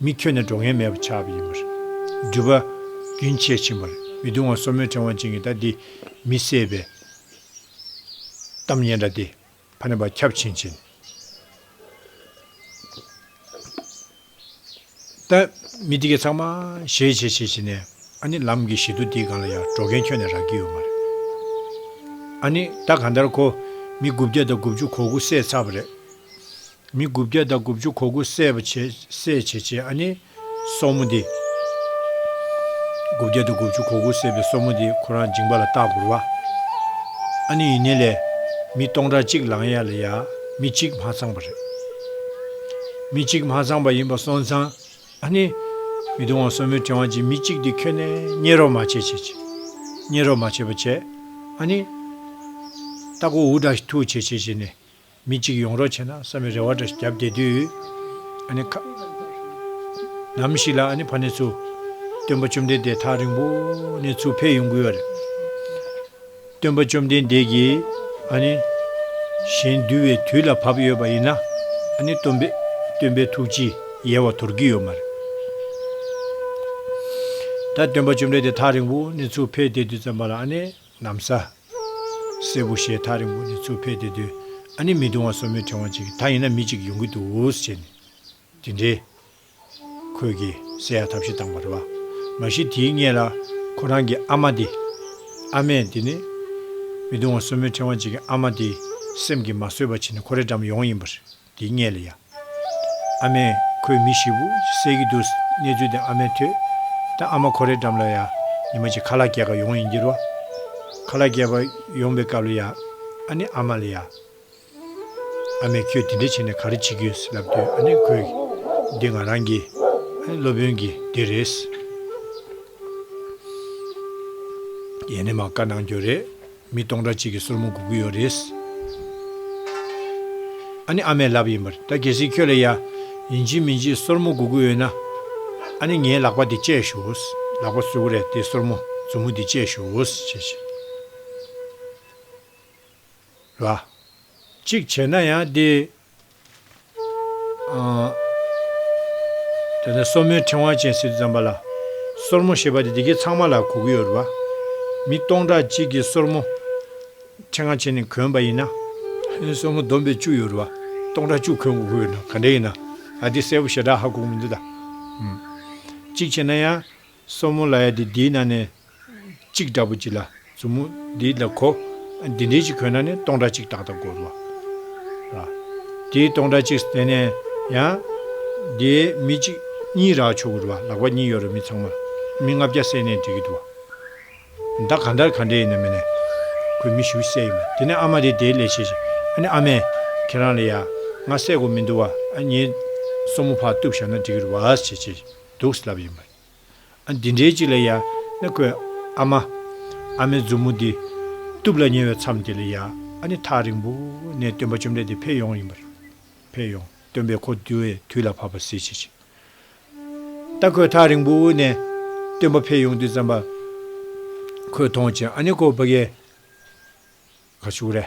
མི་ཁྱོད་ནི་འགྲོ་ངན་མེད་པར་ཆགས་པ་ཡིན་པ་རེད། སྦྲུལ་པ། རྒྱུན་ཆད་ཕྱིན་པར་མི་དུང་བ་སོར་མོའི་ཕྲེང་བ་ཅན་གྱི་ད་འདི་མི་བསད་པའི། གཏམ་སྙན་འདྲ་སྟེ། ཕ་ནི་བ་ཁྱབ་ཕྱིན་ཕྱིན། ད་མི་འདི་གས་ཚང་མ་ཞེས་བྱས་བྱས་བྱས་ནས་ཨ་ནི་ལམ་གྱི་ཞི་དུ་འདི་གང་ལ་ཡང་འགྲོ་མཁན་ཁྱོད་ནས་རག་གི་ཡོད་མ་རེད། ཨ་ནི་ད་གང་ལྟར་ཁོ་མི་དགུ་བརྒྱ་དང་དགུ་བཅུ་གོ་དགུ་བསད་ཚར་བ་རེད། མི་དགུ་བརྒྱ་དང་དགུ་བཅུ་གོ་དགུ་བསད་པ་བྱེད་བསད་བྱེད་བྱེད་ཨ་ནི། སོར་མོ་འདི། དགུ་བརྒྱ་དང་དགུ་བཅུ་གོ་དགུ་བསད་པའི་སོར་མོ་འདི་ཁོ་རང་འཇིང་པ་ལ་བཏགས་བསྒུར་བ། ཨ་ནི་ཡིན་ནི་ལས། མི་སྟོང་ཕྲག་གཅིག་ལང་ཡ་ལ་ཡ། མི་གཅིག་མ་ཚང་བ་རེད། མི་གཅིག་མ་ཚང་བ་ཡིན་པ་སོང་ཙང། ཨ་ནི། མི་སྟོང་བ་སོར་མོའི་ཕྲེང་བ་གཅིག་མི་གཅིག་འདི་ཁྱོན་ནས་རྙེད་རོགས་མ་བྱེད་བྱེད་བྱེད། རྙེད་རོགས་མ་བྱེད་པ་བྱེད། ཨ་ནི། རྟ་སྒོ་འུར་དྲག་ཐུག་བྱེད་བྱེད་བྱེད་ནས། མི་གཅིག་ཡོང་རོགས་བྱས་ན་བསམ་པའི་རེ་བ་འདྲ་ཞིག་བརྒྱབ་བསྡད་དུས། ཨ་ནི། ཁ། ནམ་ཞིག་ལ་ཨ་ནི་ཕ་ནེ་ཚུ། སྟོན་པ་བཅོམ་ལྡན་འདས་ཐག་རིང་པོ་ནས་ཚུར་ཕེབས་ཡོང་དགོས་བ་རེད། སྟོན་པ་བཅོམ་ལྡན་འདས་ཀྱིས། ཨ་ནི། གཞན་འདུལ་བའི་དུས་ལ་བབས་ཡོད་པ་ཡིན་ན། ཨ་ནི་སྟོན་པས། སྟོན་པའི་ཐུགས་ཀྱིས་ཡལ་བ་དོར་གྱི་ཡོད་མ་རེད། ད་སྟོན་པ་བཅོམ་ལྡན་འདས་ཐག་རིང་པོ་ནས་ཚུར་ཕེབས་བསྡད་དུས་བརྩམས་པ་ལ་ཨ་ནི། གནམ་ས། སེར་པོ་ཞེས་ཐག་རིང་པོ་ནས་ཚུར་ཕེབས་ཏེ་སྡོད། ཨ་ནི་མི་དུང་བ་སོར་མོའི་ཕྲེང་བ་གཅིག་གིས་ད་ཡིན་ན་མི་གཅིག་ཡོང་གི་འདུག་ཟེར་ནས། དེ་འདྲའི། ཁོད་ཀྱིས་བསད་ཡ་ཐབས་ཤེས་བཏང་བ་རེད་བ། མ་གཞི་དེའི་སྔས་ལ། ཁོ་རང་གི་ཨ་མ་དེ། ཨ་མས་དེ་ནི། མི་དུང་བ་སོར་མོའི་ཕྲེང་བ་གཅིག་གི་ཨ་མ་དེའི། སེམས་ཀྱིས་མ་བཟོད་པ་བྱས་ནས་ཁོ་རེ་འགྲམ་ཡོང་ཡིན་པ་རེད། དེ་བསྙད་ལ་ཡང། ཨ་མས། ཁོའི་མི་ཞིག་བུ་བསད་ཀྱི་འདུག་གནས་ཚུལ་དེ་ཨ་མས་ཐོས། ད་ཨ་མ་ཁོ་རེ་འགྲམ་ལ་ཡ། ཉི་མ་ཅིག་ཁ་ལག་གྱེས་ཁ་ཡོང་ཡིན་འགྱུར་བ། ཁ་ལག་གྱེས་པ་ཡོང་པའི་སྐབས་ལ་ཡ། ཨ་ནི་ཨ་མ་ལ་ཡ། ཨ་མས་ཁྱོད་དེ་འདྲ་བྱས་ནས་ག་རེ་བྱེད་ཀྱི་ཡོད་ལབ་དུས་ཨ་ནི་ཁོས། འདི་ང་རང་གི། ཨ་ནི་སློབ་དཔོན་གྱི་དེ་རེད། ཡེ་ནས་མ་བཀའ་གནང་རྒྱུ་རེད། མི་སྟོང་ཕྲག་གཅིག་གི་སོར་མོ་འགུག་གི་ཡོད་རེད། ཨ་ནི་ཨ་མའི་ལབ་ཡིན་པ་རེད་ད་གལ་སྲིད་ཁྱོད་ལ་ཡ། ཡིན་གཅིག་མིན་གཅིག་སོར་མོ་འགུག་གི་ཡོད་ན། ཨ་ནི་ངའི་ལག་པ་དེ་བཅད་ཞོགས། ལག་པ་བསུ་གི་རེད་དེ་སོར་མོ་མཛུབ་མོ་དེ་བཅད་ཞོགས། བྱེད་བྱེད། ར། གཅིག་བྱས་ན་ཡང་དེ། དེ་ནས་སོར་མོའི་ཕྲེང་བ་ཅན་སྲིད་དུ་བརྩམས་པ་ལ། སོར་མོ་ཞེས་པ་དེ་དེ་གའི་ཚང་མ་ལ་གོ་གི་ཡོད་རེད་པ། མི་སྟོང་ཕྲག་གཅིག་གིས་སོར་མོ། ཕྲེང་བ་ཅན་ནས་གོན་པ་ཡིན་ན། ཨེ་སོར་མོ་བསྡོམས་པས་བཅུ་ཡོད་རེད་པ། སྟོང་ཕྲག་བཅུ་གོན་དགོས་ཀྱི་ཡོད་ན་ག་འདྲ་ཡིན་ན། ཨ་འདི་གསལ་པོ་ཞེ་དྲག་ཧ་གོ་གི་མི་འདུག་ད། གཅིག་བྱས་ན་ཡང། སོར་མོ་ལ་ཡ་དེ་དེའི་ནང་ནས་གཅིག་འདྲ་པོ་གཅིག་ལ་མཛུབ་མོ་འདི་ལ་གོ། འདི་འདྲའི་གཅིག་གོན་ན་ནི་སྟོང་ཕྲག་གཅིག་ཏག་ཏག་བགོ་རུ་བ། དེའི་སྟོང་ཕྲག་གཅིག་དེ་ནས་ཡང། དེའི་མི་གཅིག་གཉིས་རག་ཆོག་གི་རུ་བ་ལག་པ་གཉིས་ཡོད་རུ་མི་ཚང་མ་མི་ལྔ་བརྒྱ་བསད་ནས་འགྲིག་གི་འདུག་བ། ཟླ་གང་ལྟར་ག་འདྲས་ཡིན་ན་མིན་ན། ཁོས་མི་བཞི་བོ་བསད་ཡིན་པ་དེ་ནས་ཨ་མ་དེས་དེའི་ལས་བྱེད་བྱེད་ཨ་ནི་ཨ་མས། ཁྱེད་རང་ལ་ཡ་ང་བསད་དགོས་མི་འདུག་བ། ངའི་སོར་མོ་ཕར་གཏུབས་བཞག་ན་འགྲིག་གི་རུ་བ་ཞེས་བྱས་འདུག་ལབ་ཡིན་པ། ཨ། འདི་འདྲའི་ཅིག་ལ་ཡ། ན་ཁོའི། ཨ་མ། ཨ་མའི་མཛུབ་མོ་འདི། སྟུབ་ལ་ཉེ་བའི་མཚམས་དེ་ལ་ཡ། ཨ་ནི་ཐག་རིང་པོ། ནས་སྟོན་པ་བཅོམ་ལྡན་འདས་ཕེབས་ཡོང་ཡིན་པར། ཕེབས་ཡོང། སྟོན་པས་ཁོ་བསྡུ་བའི་དུས་ལ་བབ་པར་གཟིགས་བྱེད་ཅིག། ད་ཁོས་ཐག་རིང་པོ། ནས། སྟོན་པ་ཕེབས་ཡོང་དུས་ཙམ་པ། ཁོས་མཐོང་ཅིང་ཨ་ནི་ཁོ་བོ་བ། ག། ཕྱུགས་ར།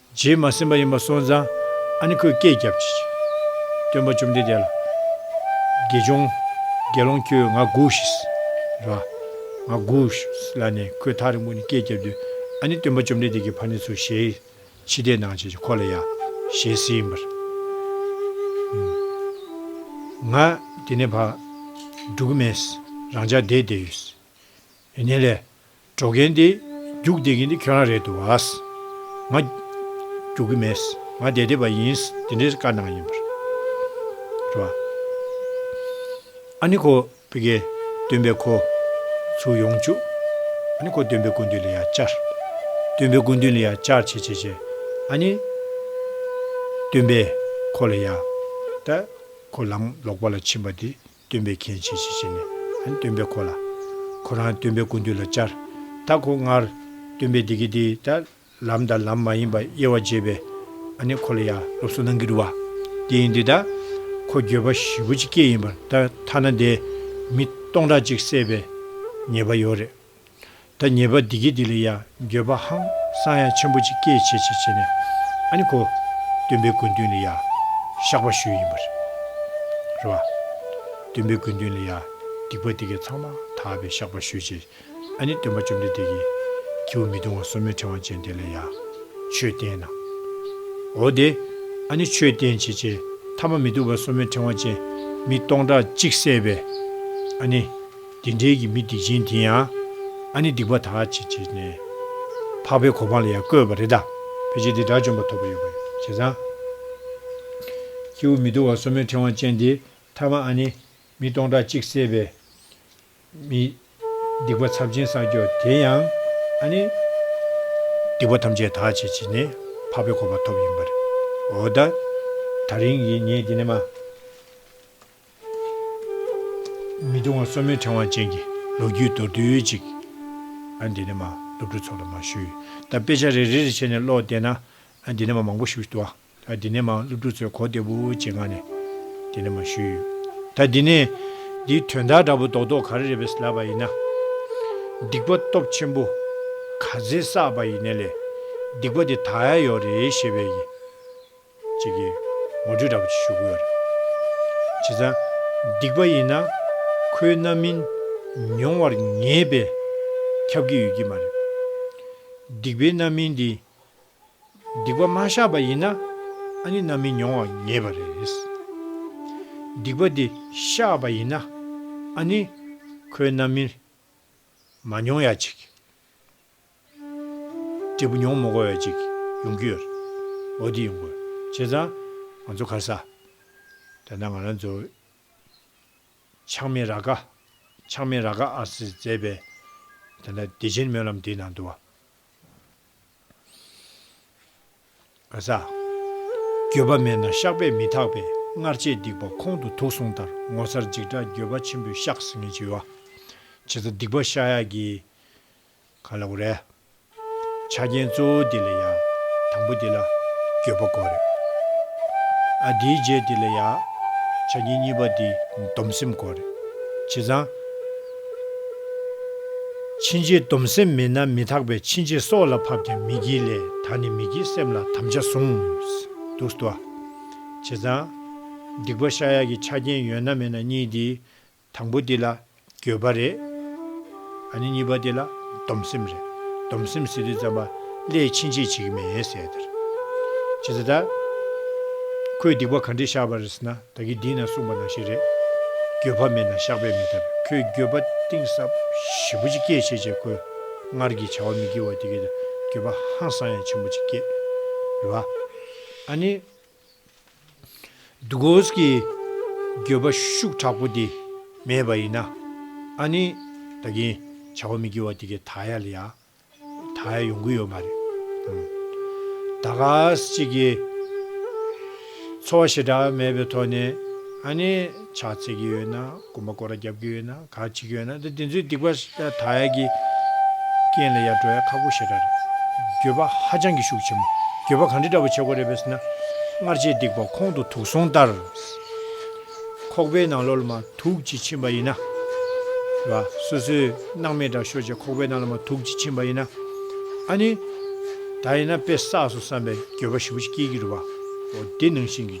རྗེས་མ་སེམས་པ་ཡིན་པ་སོང་ཙང་ཨ་ནི་ཁོས་སྐད་བརྒྱབ། སྟོན་པ་བཅོམ་ལྡན་འདས་ལ། དགེ་སྦྱོང། དགེ་སློང་ཁྱོད་ང་སྒུགས་ཤིག། རེད་བ། ང་སྒུགས་ཤིག་ལབ་ནས་ཁོས་ཐག་རིང་པོ་ནས་སྐད་བརྒྱབ་དུས་ཨ་ནི་སྟོན་པ་བཅོམ་ལྡན་འདས་ཀྱིས་ཕ་ནི་ཚུར་ཞལ་ཕྱིས་བལྟས་གནང་བྱས་ཀྱི་ཁོ་ལ་ཡ། ཞལ་བསིལ་ཡིན་པར། ང། དེ་ནས་བག། འགྲུག་གི་མེད། རང་ཅག་བསྡད་བསྡད་ཡོད། ཡིན་ནའི་ལས། འགྲོ་མཁན་དེ། རྒྱུགས་འདེད་མཁན་དེ་ཁྱོད་རང་རེད་འདུག་བ། ང། རྒྱུགས་ཀྱི་མེད། ང་འདེད་འདེད་པ་ཡིན། དེ་འདྲའི་བཀའ་གནང་ཡིན་པར། རེད་བ། ཨ་ནི་ཁོ། པི་ཀེ། སྟོན་པས་ཁོ། ཚུར་ཡོང་བཅུག། ཨ་ནི་ཁོ་སྟོན་པའི་སྐུ་མདུན་ལ་ཡར་བཅར། སྟོན་པའི་སྐུ་མདུན་ལ་ཡར་བཅར་བྱས་བྱས་བྱས། ཨ་ནི། སྟོན་པས། ཁོ་ལ་ཡར། ད། ཁོ་ལམ་ལོག་པ་ལ་ཕྱིན་པ་དེ། སྟོན་པས་མཁྱེན་བྱས་ཤིག་བྱས་ནས། སྟོན་པས་ཁོ་ལ། ཁོ་རང་སྟོན་པའི་སྐུ་མདུན་ལ་བཅར། ད་ཁོ་སྔར། སྟོན་པས་འདི་སྐད་དེ་ལྟ། ལམ་དང་ལམ་མ་ཡིན་པ་དབྱེ་བ་འབྱེད་པའི། ནི་ཁོ་ལ་ཡང་སློབ་གསོ་གནང་གི་འདུག་བ། དེ་ཡིན་དེ་ལྟ། ཁོ་འགྱོད་པ་བཞི་པོ་ཅི་སྐད་ཡིན་པར་ད་ཐ་ན་འདས། མི་སྟོང་ཕྲག་གཅིག་བསད་པའི། ཉེས་པ་ཡོད་རེད། ད་ཉེས་པ་འདི་གི་འདི་ལ་ཡང་འགྱོད་པ་ཧང་སང་ཡང་ཆེན་པོ་ཅིག་སྐྱེད་བྱེད་བྱེད་བྱེད་ནས་ཨ་ནི་གོ། སྟོན་པའི་དགོས་འདུན་ལ་ཡང་བཤགས་པ་ཞུས་ཡིན་པ་རེད། རེད་བ། སྟོན་པའི་དགོས་འདུན་ལ་ཡང་སྡིག་པ་འདི་གའི་ཚང་མ་དག་པའི་བཤགས་པ་ཞུས་རྗེས་ཨ་ནི་སྟོན་པ་བཅོམ་ལྡན་འདས་ཀྱིས་ཁྱེའུ་མི་གདུང་བ་སོ་མའི་ཕྲེང་བ་ཅན་དེ་ལ་ཡང་ཆོས་བསྟན་གནང། འོ་དེ་ཨ་ནི་ཆོས་བསྟན་བྱེད་ཅེས་ཐ་མ་མི་སྡུག་པ་སོ་མའི་ཕྲེང་བ་ཅན་མི་སྟོང་ཕྲག་གཅིག་བསད་པས་ཨ་ནི། དེ་འབྲེལ་གྱི་མི་སྡིག་ཅན་དེ་ཡང། ཨ་ནི་སྡིག་པ་དག་ཅིག་བྱས་ནས། འཕགས་པའི་གོ་འཕང་ལ་ཡང་བཀོད་པ་རེད་ད། ཕལ་ཆེར་དེ་དགྲ་བཅོམ་པ་ཐོབ་པ་ཡོད་པ་བྱས་ཙང། ཁྱེ་འུ་མི་དུ་བ་སོ་མོའི་ཕྲེང་བ་ཅན་དེ་ཐ་མ་ཨ་ནི། མི་སྟོང་ཕྲག་གཅིག་བསད་པའི། མི། སྡིག་པ་ཚབས་ཆེན་བསགས་ཀྱོ་དེ་ཡང། ཨ་ནི། སྡིག་པ་ཐམས་ཅད་དག་ཅིག་བྱས་ནས། འཕགས་པའི་གོ་འཕང་ཐོབ་ཡིན་པར། འོ་ད། ད་རིང་གི་ངས་དེ་ནི་མ། མི་གདུང་བ་གསོ་མེད་ཕྲེང་བ་ཅན་གྱི་ལོ་རྒྱུས་མདོར་བསྡུས་ཅིག། ཨ་འདི་ནས་མ། སློབ་ཕྲུག་ཚོ་ལ་མ་ཞུས། ད་དཔེ་ཆ་རེ་རེ་རེ་བྱས་ནས་ཀློག་བསྡད་ན། ཨ་འདི་ནས་མ་མང་པོ་ཞུ་ཞུ། ད་འདི་ནས་མ་སློབ་ཕྲུག་ཚོས་གོ་བདེ་བོ་ཅེས་ངག་ནས། འདི་ནས་མ་ཞུས། ད་འདི་ནས། འདིའི་དོན་དག་འདྲ་པོ་རྡོག་རྡོག་ག་རེ་རེད་བས་ལབ་པ་ཡིན་ན། སྡིག་པ་སྟོབས་ཆེན་པོ། ག་ཚེ་བསགས་པ་ཡིན་ནས་ལས། སྡིག་པ་དེ་དག་ཡག་ཡོག་རེད་ཞེས་པའི་ཡིན། ཅིག་གིས་ངོ་སྤྲོད་འདྲ་པོ་ཞིག་ཞུ་གི་ཡོད་རེད། བྱས་ཙང། སྡིག་པ་ཡིན་ན། ཁོའི་རྣམ་སྨིན། མྱོང་བར་ངེས་པས། ཁྱབ་ཀྱི་ཡོད་ཀྱི་མ་རེད། སྡིག་པའི་རྣམ་སྨིན་འདི། སྡིག་པ་མ་བཤགས་པ་ཡིན་ན། ཨ་ནི་རྣམ་སྨིན་མྱོང་བར་ངེས་པ་རེད། སྡིག་པ་འདི་བཤགས་པ་ཡིན་ན། ཨ་ནི། ཁོའི་རྣམ་སྨིན། མ་མྱོང་ཡ་ཅིག། འབྲས་བུ་ཉོང་མོངས་འགོ་བའི་ཅིག། ཡོང་གི་ཡོད། འོ་འདི་ཡོང་དགོས། བྱས་ཙང། ང་ཚོ་ཁར་ས། དེ་ན་ང་རང་ཚོ། ཆགས་མེད་ར་ཀ། ཆགས་མེད་ར་ཀ་ཨ་སི་མཛད་པའི། དེ་ན་བདེ་ཆེན་སྨོན་ལམ་འདི་ནང་དུ་བ། ག་ས། འགྱོད་པ་མེད་ན་བཤགས་པས་མི་ཐག་པས་སྔར་བྱས་སྡིག་པ་ཁོང་དུ་དུག་གསུངས་ལྟར་ངོ་མཚར་འཇིགས་སྐྲག་འགྱོད་པ་ཆེན་པོས་བཤགས་ཟིན་ངེས་བྱས་བ། བྱས་ཙང་སྡིག་པ་བཤགས་ཡག་གི། ག་ལ་བོ་རེད། ཆ་རྐྱེན་གཙོ་བོ་དེ་ལ་ཡ། དང་པོ་དེ་ལ། འགྱོད་པ་གོ་རེད། ཨ། དེའི་རྗེས་དེ་ལ་ཡ། ཆ་རྐྱེན་གཉིས་པ་དེ་སྡོམ་སེམས་གོ་རེད། བྱས་ཙང། ཕྱིན་ཆད་སྡོམ་སེམས་མེད་ན་མི་དག་པས་ཕྱིན་ཆད་སྲོག་ལ་ཕབ་ཀྱང་མི་བགྱིད་ལས་ད་ནི་མི་བགྱིད་སེམས་ལ་དམ་བཅའ་བཟུང། འདུག་བསྡོ། བྱས་ཙང། སྡིག་པ་ཤ་ཡག་གི་ཆ་རྐྱེན་ཡོད་ན་མེད་ན་གཉིས་དེ། དང་པོ་དེ་ལ་འགྱོད་པ་རེད། ཨ་ནི་གཉིས་པ་དེ་ལ་སྡོམ་སེམས་རེད། སྡོམ་སེམས་ཟེར་དུས་ཙམ་པ་ཀླད་ཕྱིན་ཆད་བྱེད་ཀྱི་མེད་ཟེར་ཡ་དེར། ཇི་ལྟར། ཁོས་སྡིག་པ་ག་འདྲས་བཤགས་པ་རེད་ཟེར་ན་ད་གི་འདི་ན་གསུངས་པ་ནང་བཞིན་རེད། འགྱོད་པ་མེད་ན་བཤགས་པས་མི་ཐར་ཁོས་འགྱོད་པ་གཏིང་ཟབ་ཞེ་པོ་ཅིག་སྐྱེས་བྱས་བྱས་ཁོས་སྔར་གྱི་བྱ་བ་མི་དགེ་བ་དེ་གས་ད་འགྱོད་པ་ཧང་སང་ཡང་ཆེན་པོ་ཅིག་སྐྱེས། རེད་བ། ཨ་ནི། འདུ་འགོད་ཀྱི་འགྱོད་པ་ཤུགས་དྲག་པོ་དེ་མེད་པ་ཡིན་ན་ཨ་ནི་ད་གིན་བྱ་བ་མི་དགེ་བ་དེ་གའི་ད་ཡ་ལ་ཡ་ད་ཡ་ཡོང་གི་ཡོད་མ་རེད། ད་ག་ཅིག་གིས་འཚོ་བ་ཞེ་དྲག་མེད་པའི་ཐོག་ནས་ཨ་ནི་ཕྱག་འཚལ་གྱི་ཡོད་ན། དགོན་པ་སྐོར་རྒྱབ་ཀྱི་ཡོད་ན་ག་ཅིག་ཡོད་ན་དེ་དེ་ཚོའི་སྡིག་པ་དག་ཡ་གི་རྐྱེན་ལ་ཡར་འགྲོ་ཡ་ཁག་པོ་ཞེ་དྲག་རེད། འགྱོད་པ་ཧ་ཅང་གི་ཤུགས་ཆེན་པོ་འགྱོད་པ་གང་འདྲི་འདྲ་པོ་བྱེད་དགོས་རེད་བས་ན། སྔར་བྱས་སྡིག་པ་ཁོང་དུ་དུག་སོང་ལྟར། ཁོག་པའི་ནང་ལོག་ལ་མ་དུག་ཅིག་ཕྱིན་པ་ཡིན་ན། རེད་བ། སོ་སོའི་སྣང་མེད་དྲག་ཤོར་བྱས་ཁོག་པའི་ནང་ལ་མ་དུག་ཅིག་ཕྱིན་པ་ཡིན་ན། ཨ་ནི། ད་ཡིན་ན་དཔེ་བསགས་སོ་བསམ་པའི་འགྱོད་པ་ཞིམ་པོ་ཞིག་སྐྱེས་ཀྱི་རེད་བ། འོ་དེ་ནང་བཞིན་གྱི།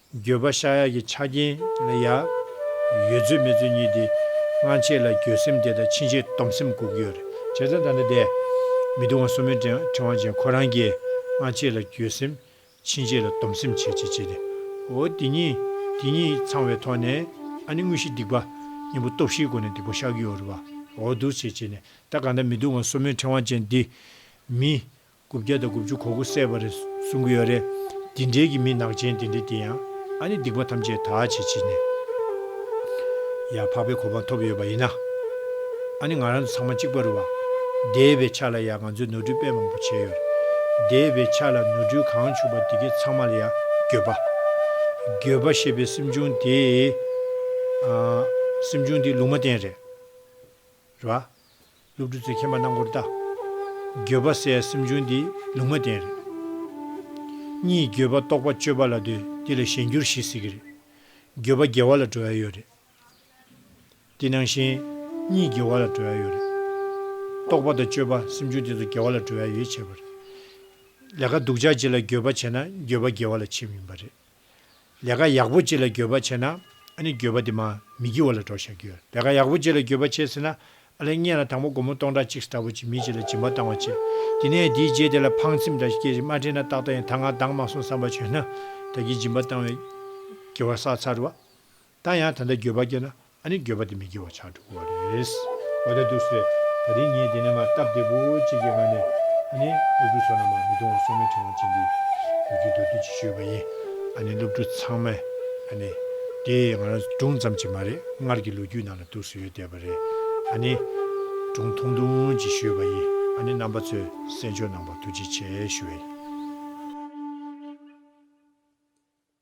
འགྱོད་པ་བཤགས་ཡ་གི་ཆ་རྐྱེན་ལ་ཡ། ཡོད་ཚོད་མེད་ཚོད་གཉིས་ཏེ། སྔ་ཕྱི་ལ་འགྱོད་སེམས་དེ་དང་ཕྱིན་ཆད་སྡོམ་སེམས་འགུག་གི་ཡོད་རེད། བྱས་ཙང་ད་ནི་བསྡད། མི་དུང་བ་སོ་མོའི་ཕྲེང་བ་ཅན་ཁོ་རང་གིས་སྔ་ཕྱི་ལ་འགྱོད་སེམས། ཕྱིན་ཆད་ལ་སྡོམ་སེམས་བྱས་བྱས་བྱས་ཏེ། འོ་དེ་གཉིས། དེ་གཉིས་ཚང་བའི་ཐོག་ནས། ཨ་ནི་དངོས་གཞི་སྡིག་པ། གཉེན་པོ་སྟོབས་བཞིའི་སྒོ་ནས་སྡིག་པ་བཤགས་ཀྱི་ཡོད་རེད་པ། འོ་འདུག་བྱས་བྱས་ནས་ད་གང་ལྟར་མི་དུང་བ་སོ་མོའི་ཕྲེང་བ་ཅན་འདི། མི། དགུ་བརྒྱ་དང་དགུ་བཅུ་གོ་དགུ་བསད་པ་རེད་གསུང་གི་ཡོད་རེད། འདི་འདྲའི་གི་མི་ནག་ཅན་དེ་འདྲ་དེ་ཡང་ཨ་ནི་སྡིག་པ་ཐམས་ཅད་དག་བྱེད་བྱེད་ནས་ཡང་འཕགས་པའི་གོ་འཕང་ཐོབ་ཡོད་པ་ཡིན་ན་ཨ་ནི་ང་རང་ཚོ་ཚང་མ་གཅིག་པ་རུ་བ། འདས་པའི་ཆ་ལ་ཡང་ང་ཚོས་ནོར་འཁྲུལ་དཔེ་མང་པོ་བྱས་ཡོད། འདས་པའི་ཆ་ལ་ནོར་འཁྲུལ་གང་བྱུང་བ་དེ་གའི་ཚང་མ་ལ་ཡང་འགྱོད་པ། འགྱོད་པ་ཞེས་པའི་སེམས་བྱུང་དེ། སེམས་བྱུང་དེ་ལུང་མ་བསྟན་རེད། རེད་བ། སློབ་ཕྲུག་ཚོས་མཁྱེན་པ་རྣམས་སྐོར་ལྟ། འགྱོད་པ་བསལ་སེམས་བྱུང་འདི་ལུང་མ་བསྟན་རེད། གཉིས་འགྱོད་པ་རྟོགས་པ་སྤྱོད་པ་ལ་འདོད་འདི་ལ་གཞན་འགྱུར་ཞེས་ཟེར་གྱི་རེད། འགྱོད་པ་དགེ་བ་ལ་བྲོ་ཡ་ཡོད་རེད། འདི་ནང་བཞིན། གཉིས་དགེ་བ་ལ་བྲོ་ཡ་ཡོད་རེད། རྟོགས་པ་དང་སྤྱོད་པ་སེམས་བྱུང་དེ་ཚོ་དགེ་བ་ལ་བྲོ་ཡ་ཡོད་བྱས་པ་རེད། ལས་ཀ་སྡུག་ཅག་ཅིག་ལ་འགྱོད་པ་བྱས་ན་འགྱོད་པ་དགེ་བ་ལ་བྱེད་མིན་པ་རེད། ལས་ཀ་ཡག་པོ་ཅིག་ལ་འགྱོད་པ་ཆེ་ན། ཨ་ནི་འགྱོད་པ་དེ་མ་མི་འགྱིའོ་ལ་འགྲོ་བཞག་གི། ལས་ཀ་ཡག་པོ་ཅིག་ལ་འགྱོད་པ་ཆེ་ཟེར་ན། ཨ་ལས་བརྙན་ལ་དང་པོ་སྒོར་མོ་སྟོང་ཕྲག་གཅིག་ཟེར་འདྲ་བོ་ཅིག་མི་གཅིག་ལ་སྦྱིན་པ་བཏང་བ་ཅིག། དེ་ནས་དེའི་རྗེས་དེ་ལ་ཕངས་སེམས་འདྲ་ཞིག་སྐྱེས་ཤིང་མ་དྲན་ན་ཏག་ཏག་ཡང་ད་ང་འདང་མ་སོང་བསམ་པ་བྱོན་ན། བདག་གིས་སྦྱིན་པ་བཏང་བའི་དགེ་བ་བསགས་ཚར་བ། ད་ཡང་ད་ལྟ་འགྱོད་པ་སྐྱེ་ན་ཨ་ནི་འགྱོད་པ་དེ་མི་སྐྱེ་བ་ཆགས་འགྲོ་དགོས་བ་རེད། འོ་ད་དུས་སུ་རེད་ད་རིང་ངས་འདི་ནས་མ་བཏབ་སྟེ་པོ་གཅིག་གི་ངང་ནས་ཨ་ནི་སློབ་ཕྲུག་ཚོ་ནང་མ་མི་དུང་བ་སོ་མའི་ཕྲེང་བ་ཅན་འདི་ཡོད་རྒྱུའི་མདོ་སྡུད་ཅིག་ཞུས་པ་ཡིན། ཨ་ནི་སློབ་ཕྲུག་ཚང་མས་ཨ་ནི། དེ་ང་རང་སྒྲུང་ཙམ་གྱིས་མ་རེད་སྔར་གྱི་ལོ་རྒྱུས་ནང་ལ་གཏུགས་སུ་ཡོད་བསྡད་པ་རེད་ཨ་ནི། སྒྲུང་ཐུང་ཐུང་ཅིག་ཞུས་པ་ཡིན་ཨ་ནི་རྣམ་པ་ཚོས་གསན་ཆོག་གནང་བར་ཐུགས་རྗེ་ཆེ་ཞུ་བ་ཡིན།